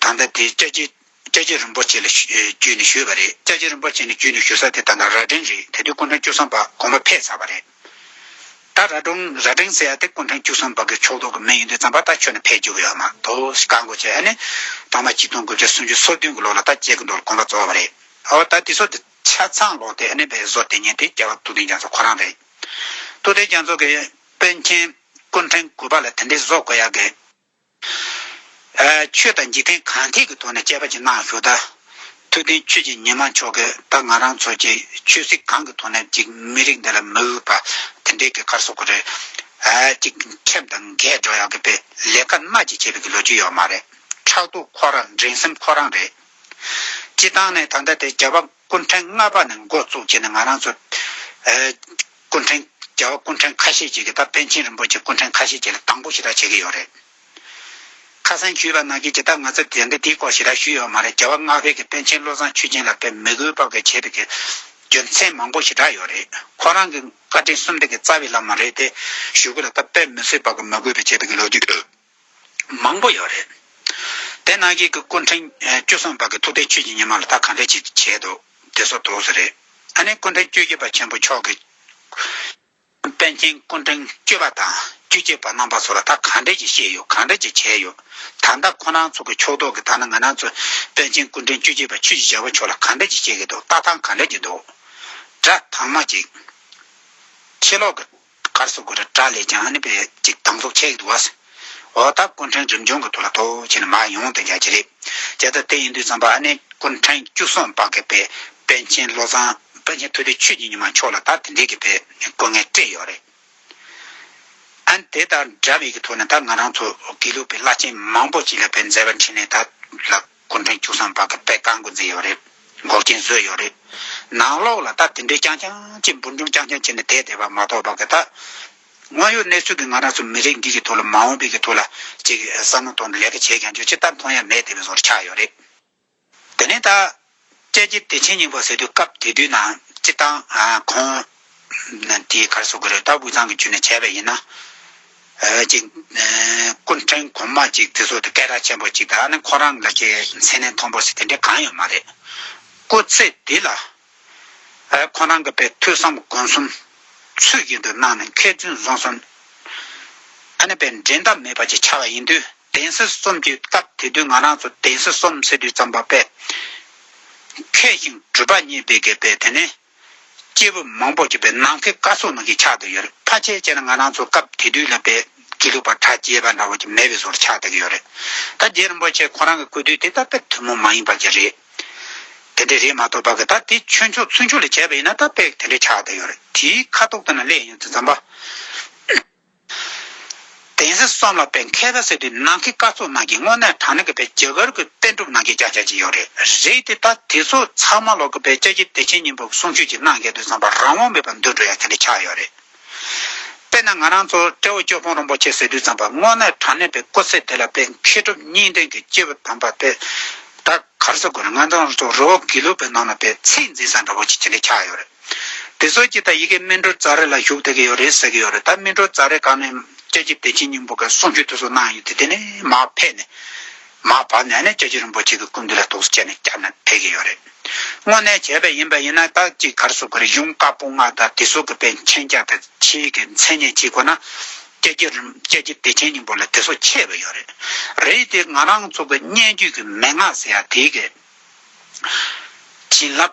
ད་ལྟ་དེ་སྐྱ་སྐྱེས་སྐྱ་སྐྱེས་རིན་པོ་ཆེ་ལ་བརྒྱུད་ནས་ཞུས་པ་རེད་སྐྱ་སྐྱེས་རིན་པོ་ཆེ་ནས་བརྒྱུད་ནས་ཞུ་ས་དེ་ད་ལྟ་རྭ་སྒྲེང་རེད་དེ་དུས་སྐུ་ཕྲེང་བཅུ་གསུམ་པ་དགོངས་པ་འཕེལ་ཚར་བ་རེད། ད་རྭ་སྒྲུང་རྭ་སྒྲེང་ཟེར་ཡ་དེ་སྐུ་ཕྲེང་བཅུ་གསུམ་པ་གི་ཕྱོགས་གཏོགས་ཀྱི་མི་ཡིན་དུས་རྩམ་པ་ད་ཁྱོན་ནས་འཕེལ་བཅུག་ཡོད་མ་གཏོགས་ག་གོ་བྱས་ཨ་ནི། ཐོག་མ་གཅིག་སྟོང་དགུ་བརྒྱ་སུམ་ཅུ་སོ་བདུན་གྱི་ལོ་ལ་ད་སྐྱེས་ཀྱི་འདུག་ལ་དགོངས་པ་རྫོགས་བ་རེད། ཨོ་ད་དེ་ཚོ་དེ་ཆ་ཚང་ལོག་སྟེ་ཨ་ནི་བའི་བཟོ་དེ་ཉན་དེ་རྒྱལ་བ་སྟོད་ལྡན་རྒྱ་མཚོ་ཁོ་རང་རེད། སྟོད་ལྡན་རྒྱ་མཚོ་གི་དཔོན་ཆེན་སྐུ་ཕྲེང་དགུ་པ་ལ་དེ་འདྲའི་བཟོ་དགོས་ཡག་གི། ཆོས་དང་འཇིག་རྟེན་གང་ཐད་ཀྱི་ཐོག་ནས་དཔྱད་པ་ཅི་གནང་ཞུ་ད། ཐུབ་བསྟན་ཆོས་རྗེ་ཉི་མ་མཆོག་གིས་ད་ང་རང་ཚོ་གྱི་ཆོས་སྲིད་གང་གི་ཐོག་ནས་ཅིག་མི་རིགས་འདི་ལ་མི་འོས་པ་དེ་འདྲའི་གི་ཁར་སོ་གོ་རེད། ཅིག་ཁྲེམ་དང་འགས་སྒྲོག་ཡག་གི་པའི་ལས་ཀ་སྣ་གཅིག་བྱས་པའི་གི་ལོ་རྒྱུས་ཡོད་མ་རེད། ཕྲག་དོག་ཁོ་རང་འགྲན་སེམས་ཁོ་རང་རེད། སྤྱི་བཏང་ནས་ད་ལྟ་དེ་རྒྱ་བབ། སྐུ་འཕྲེང་ལྔ་པ་ནས་འགོ་བཙུགས་བྱས་ནས་ང་རང་ཚོ། སྐུ་འཕྲེང་བརྒྱ་བ་སྐུ་འཕྲེང་ཁ་ཤས་བྱེད་ཀྱི་ད་པཎ་ཆེན་རིན་པོ་ཆེ་སྐུ་འཕྲེང་ཁ་ཤས་བྱེད་ལ་དང་པོ་ཞེ་དྲག་བྱེད་ཀྱི་ཡོད་རེད། ཁ་སང་ཞུས་པ་ནང་བཞིན་ཇི་ལྟར་ང་ཚོ་དེ་འདྲ་དེའི་སྐོར་ཞེ་དྲག་ཞུས་ཡོད་མ་རེད་བརྒྱ་བ་སྔགས་བྷེ་ཀྱི་པཎ་ཆེན་བློ་བཟང་ཆོས་སྦྱིན་ལགས་པས་མི་གུས་བབ་གི་བྱས་པའི་གི་རྒྱུ་མཚན་མང་པོ་ཞེ་དྲག་ཡོད་རེད་ཁོ་རང་གི་བཀའ་དྲིན་གསུམ་ལྡན་གི་རྩ་བའི་བླ་མ་རེད་དེ་ཞུ་གི་ལ་ད་པཎ་མི་སེར་བབ་གི་མི་གུས་པའི་བྱས་པའི་གི་ལོ་རྒྱུས་མང་པོ་ཡོད་རེད། དེ་ནང་གི་གི་སྐུ་འཕྲེང་བཅུ་གསུམ་པ་གི་ཐུགས་རྟེན་ཆོས་ཀྱི་ཉི་མ་ལ་ད་གང་འདྲས་ཅིག་བྱས་འདུག་དེ་སོགས་དུག་སོགས་རེད། ཨ་ནི་སྐུ་འཕྲེང་བཅུ་བཞི་པ་ཆེན་པོ་མཆོག་གི་དཔལ་མཁྱེན་སྐུ་འཕྲེང་བཅུ་པ་དང་བཅུ་གཅིག་པ་རྣམ་པ་སོགས་ལ་ད་གང་འདྲས་ཅིག་བཤད་ཡོད་གང་འདྲས་ཅིག་བྱས་ཡོད། ད་ལྟ་ཁོ་ནང་ཚོ་གི་ཕྱོགས་གཏོགས་གི་ད་ནི་ང་ནང་ཚོ་དཔལ་མཁྱེན་སྐུ་འཕྲེང་བཅུ་གཅིག་པ་ཆོས་ཀྱི་བྱ་བ་མཆོག་ལ་གང་འདྲས་ཅིག་བཤད་གི་འདུག་ལྟ་སྟངས་གང་འདྲས་ཅིག་འདུག། སྒྲ་གདངས་མ་གཅིག། ཕྱི་ལོག་གི་དཀར་སོག་གུ་རུ་ཏྲ་ལས་ཀྱང་ནི་པའི་ཅིག་དང་ཚོགས་ཆས་ཡིག་ཏུ་བ། འོག་དག་ཀུན་ཕྲན་རིམ་བྱོན་གྱི་དུ་ལ་ཐོ་བྱས་ནས་མ་ཡོང་དེ་འགའ་ཅི་རེད། བྱས་ད་དེ་ཡིན་དུས་ཙམ་པ་ཨ་ནེ་ཀུན་ཕྲན་བཅུ་གསུམ་པ་གི་པའི་པན་ཆེན་བློ་བཟང། པན་ཆེན་ཐུ་ལི་ཆོས་ཀྱི་ཉི་མ་མཆོག་ལ་ད་དེ་འདྲའི་གི་པའི་དཀོན་ངལ་སྤྲད་ཡོད་རེད། ཨན་དེ་དང་འདྲ་བའི་གི་ཐོ་ནས་ད་ང་རང་ཚོ་དགེ་ལུགས་པའི་བླ་ཆེན་མང་པོ་ཅིག་ལ་པའི་མཛད་པ་འཁྲིད་ནས་ད་ལགས། སྐུ་མགྲོན་བཅུ་གསང་བར་གྱི་དཔེ་བཀའ་འགོ་འཛིན་ཡོད་རེད། འགོག་རྐྱེན་བཟོས་ཡོད་རེད། ནང་ལོགས་ལ་ད་དེ་འདྲའི་རྐྱང་རྐྱང་ཅིག་འབུར་འཇོམས་རྐྱང་རྐྱང་བྱས་ནས་བསྡད་བསྡད་པ་མ་གཏོགས་བར་གྱི་ད། དངོས་ཡོད་གནས་ཚུལ་གྱི་ང་རང་ཚོ་མི་རིགས་འདི་གྱི་ཐོག་ལ་མ་འོངས་པའི་གྱི་ཐོག་ལ་ཅིག་བསམ་བློ་གཏོང་ནས་ལས་ཀ་བྱས་ཀྱང་ཆོག་ཅི་ལྟར་མཐོང་ཡ་མེད་བསྡད་པའི་བཟོ་རུ་ཆགས་ཡོད་རེད། དེ་ནས་ད། དཔྱད་ཀྱི་བདེ་ཆེན་སྙིང་པོ་ཟེར་དུས་སྐབས་དེ་དུས་ནང་སྤྱི་བཏང་ཁོང་དེའི་ཁར་བཟོ་དགོས་རེད་སྟབས་དབུས་གཙང་གི་ཇུས་ནས་བྱས་པ་ཡིན་ན། ཅིག། སྐུ་འཕྲེང་གོང་མ་ཅིག་དེ་ཚོ་དེ་སྐད་གྲགས་ཆེན་པོ་ཅིག་ད་ནི་ཁོ་རང་ལ་ཁའི་མཚན་གནས་མཐོང་པོ་ཞིག་དེ་འདྲས་གང་ཡོད་མ་རེད། སྐུ་ཚེ་འདི་ལ། ཁོ་རང་གི་པའི་ཐོས་བསམ་སྒོམ་གསུམ་ཚུལ་བཞིན་དུ་གནང་ནས་མཁས་བཙུན་བཟང་གསུམ། ཨ་ནི་པའི་འགྲན་ཟླ་མེད་པ་ཅིག་ཆགས་པ་ཡིན་དུས། གདན་ས་གསུམ་གྱི་སྐབས་དེ་དུས་ང་རང་ཚོ་གདན་ས་གསུམ་ཟེར་དུས་རྩམ་པ་པས་མཁས་ཤིང་གྲུབ་པ་གཉིས་སྦེད་གས་པས་དེ་ནས་སྐྱེས་བུ་མང་པོ་གྱི་པའི་ནང་ཁའི་ཀ་སོགས་ནང་གི་ཆགས་འདུག་ཡོད་རེད་ཕ་ཆེ་ཆེ་ན་ང་རང་ཚོ་སྐབས་དེ་དུས་ལ་པའི་དགེ་ལུགས་པ་གྲ་རྒྱས་པ་འདྲ་བོ་གྱི་མེད་པའི་བཟོར་ཆགས་འདུག་ཡོད་རེད་ད་རྗེ་རིན་པོ་ཆེ་ཁོ་རང་གི་སྐུ་དུས་དེ་ད་པའི་ཐུན་མོང་མ་ཡིན་པ་གྱི་རེད་དེ་འདྲས་རེད་མ་གཏོགས་པ་གི་ད་དེ་ཆོས་མཆོག་ཚུལ་མཆོག་ལས་བྱས་པ་ཡིན་ན་ད་པས་དེ་འདྲས་ཆགས་འདུག་ཡོད་རེད་དེའི་ཁ་དོག་ལྟ་ན་ལས་ཡིན་ཚུལ་རྩམ་པ། གདན་ས་གསུམ་ལ་བོད་མཁས་པ་ཟེར་དུས་ནང་གི་སྐར་ཚོགས་ནང་གི་དངོས་གནས་དྲང་གནས་ཀྱི་བོད་རྒྱ་གར་གྱི་པཎ་གྲུབ་ནང་གི་རྒྱ་ཆ་ཅིག་ཡོད་རེད་རེད་དེ་ད་དེ་ཚོ་ཚང་མ་ལོག་གི་བོད་རྒྱ་ཀྱི་བདེ་ཆེན་སྙིང་པོ་གསུང་ཆོས་ཀྱི་གནང་གལ་དུ་བཟང་པ་རང་དབང་མེད་པར་འདུག་འགྲོ་ཡ་དེ་འདྲ་ཆགས་ཡོད་རེད། དཔེར་ན་ང་རང་ཚོ་ཏྲེ་བོ་ཅོ་ཕོང་རོང་པོ་ཆེ་ཟེར་དུས་ཚང་པ་དངོས་གནས་དྲང་གནས་པའི་སྐུ་ཚེ་དེ་ལ་བོད་མཁས་གྲུབ་གཉིས་ལྡན་གྱི་སྐྱེས་བུ་དམ་པ་པད་དཀར་ཟེར་དགོས་ན་ང་ཚང་ཚོ་རོ་བོ་དགེ་ལུགས་པའི་ནང་ལ་པའི་ཚད་འཛིན་ས་འདྲ་བོ་ཅིག་དེ་འདྲ་ཆགས་ཡོད་རེད། དེ་སོགས་ཀྱིས་ད་ཡི་གེ་སྨིན་གྲོལ་རྩ་རེ་ལ་ཞུགས་བསྡད་ཀྱི་ཡོད་རེད་ཟེར་གྱི་ཡོད་རེད་ད་སྨིན་གྲོལ་རྩ་རེ་གང་ནས་ལྕགས་ཀྱི་བདེ་ཆེན་སྙིང་པོ་ག་གསུང་ཆོས་དེ་སོགས་གནང་ཡོད་དེ་དེ་ནས་མ་ཕེབས་ནས། མ་བབས་ནས་ནས་ལྕགས་ཀྱི་རིན་པོ་ཆེ་གི་སྐུ་འདི་ལ་ཐུགས་སུ་བཅད་ནས་བསྐྱར་ནས་ཕེབས་ཀྱི་ཡོད་རེད། དངོས་གནས་བྱས་པ་ཡིན་པ་ཡིན་ན་ད་ཅིག་གར་སོགས་ཀྱི་རིག་གཞུང་བཀའ་སྤོང་ལྔ་དང་དེ་སོགས་ཀྱི་པའི་མཆན་རྒྱག་དང་ཕྱིའི་གི་མཚན་གནས་གཅིག་ཁོ་ན། ལྕགས་ཀྱི་རིན་ལྕགས་ཀྱི་བདེ་ཆེན་སྙིང་པོ་ལ་དེ་སོགས་ཆད་པ་ཡོད་རེད། རེད་དེ་ང་རང་ཚོ་གི་སྙན་བརྒྱུད་ཀྱི་མན་ངག་ཟེར་ཡག་དེའི་གི། བྱིན་རླབས།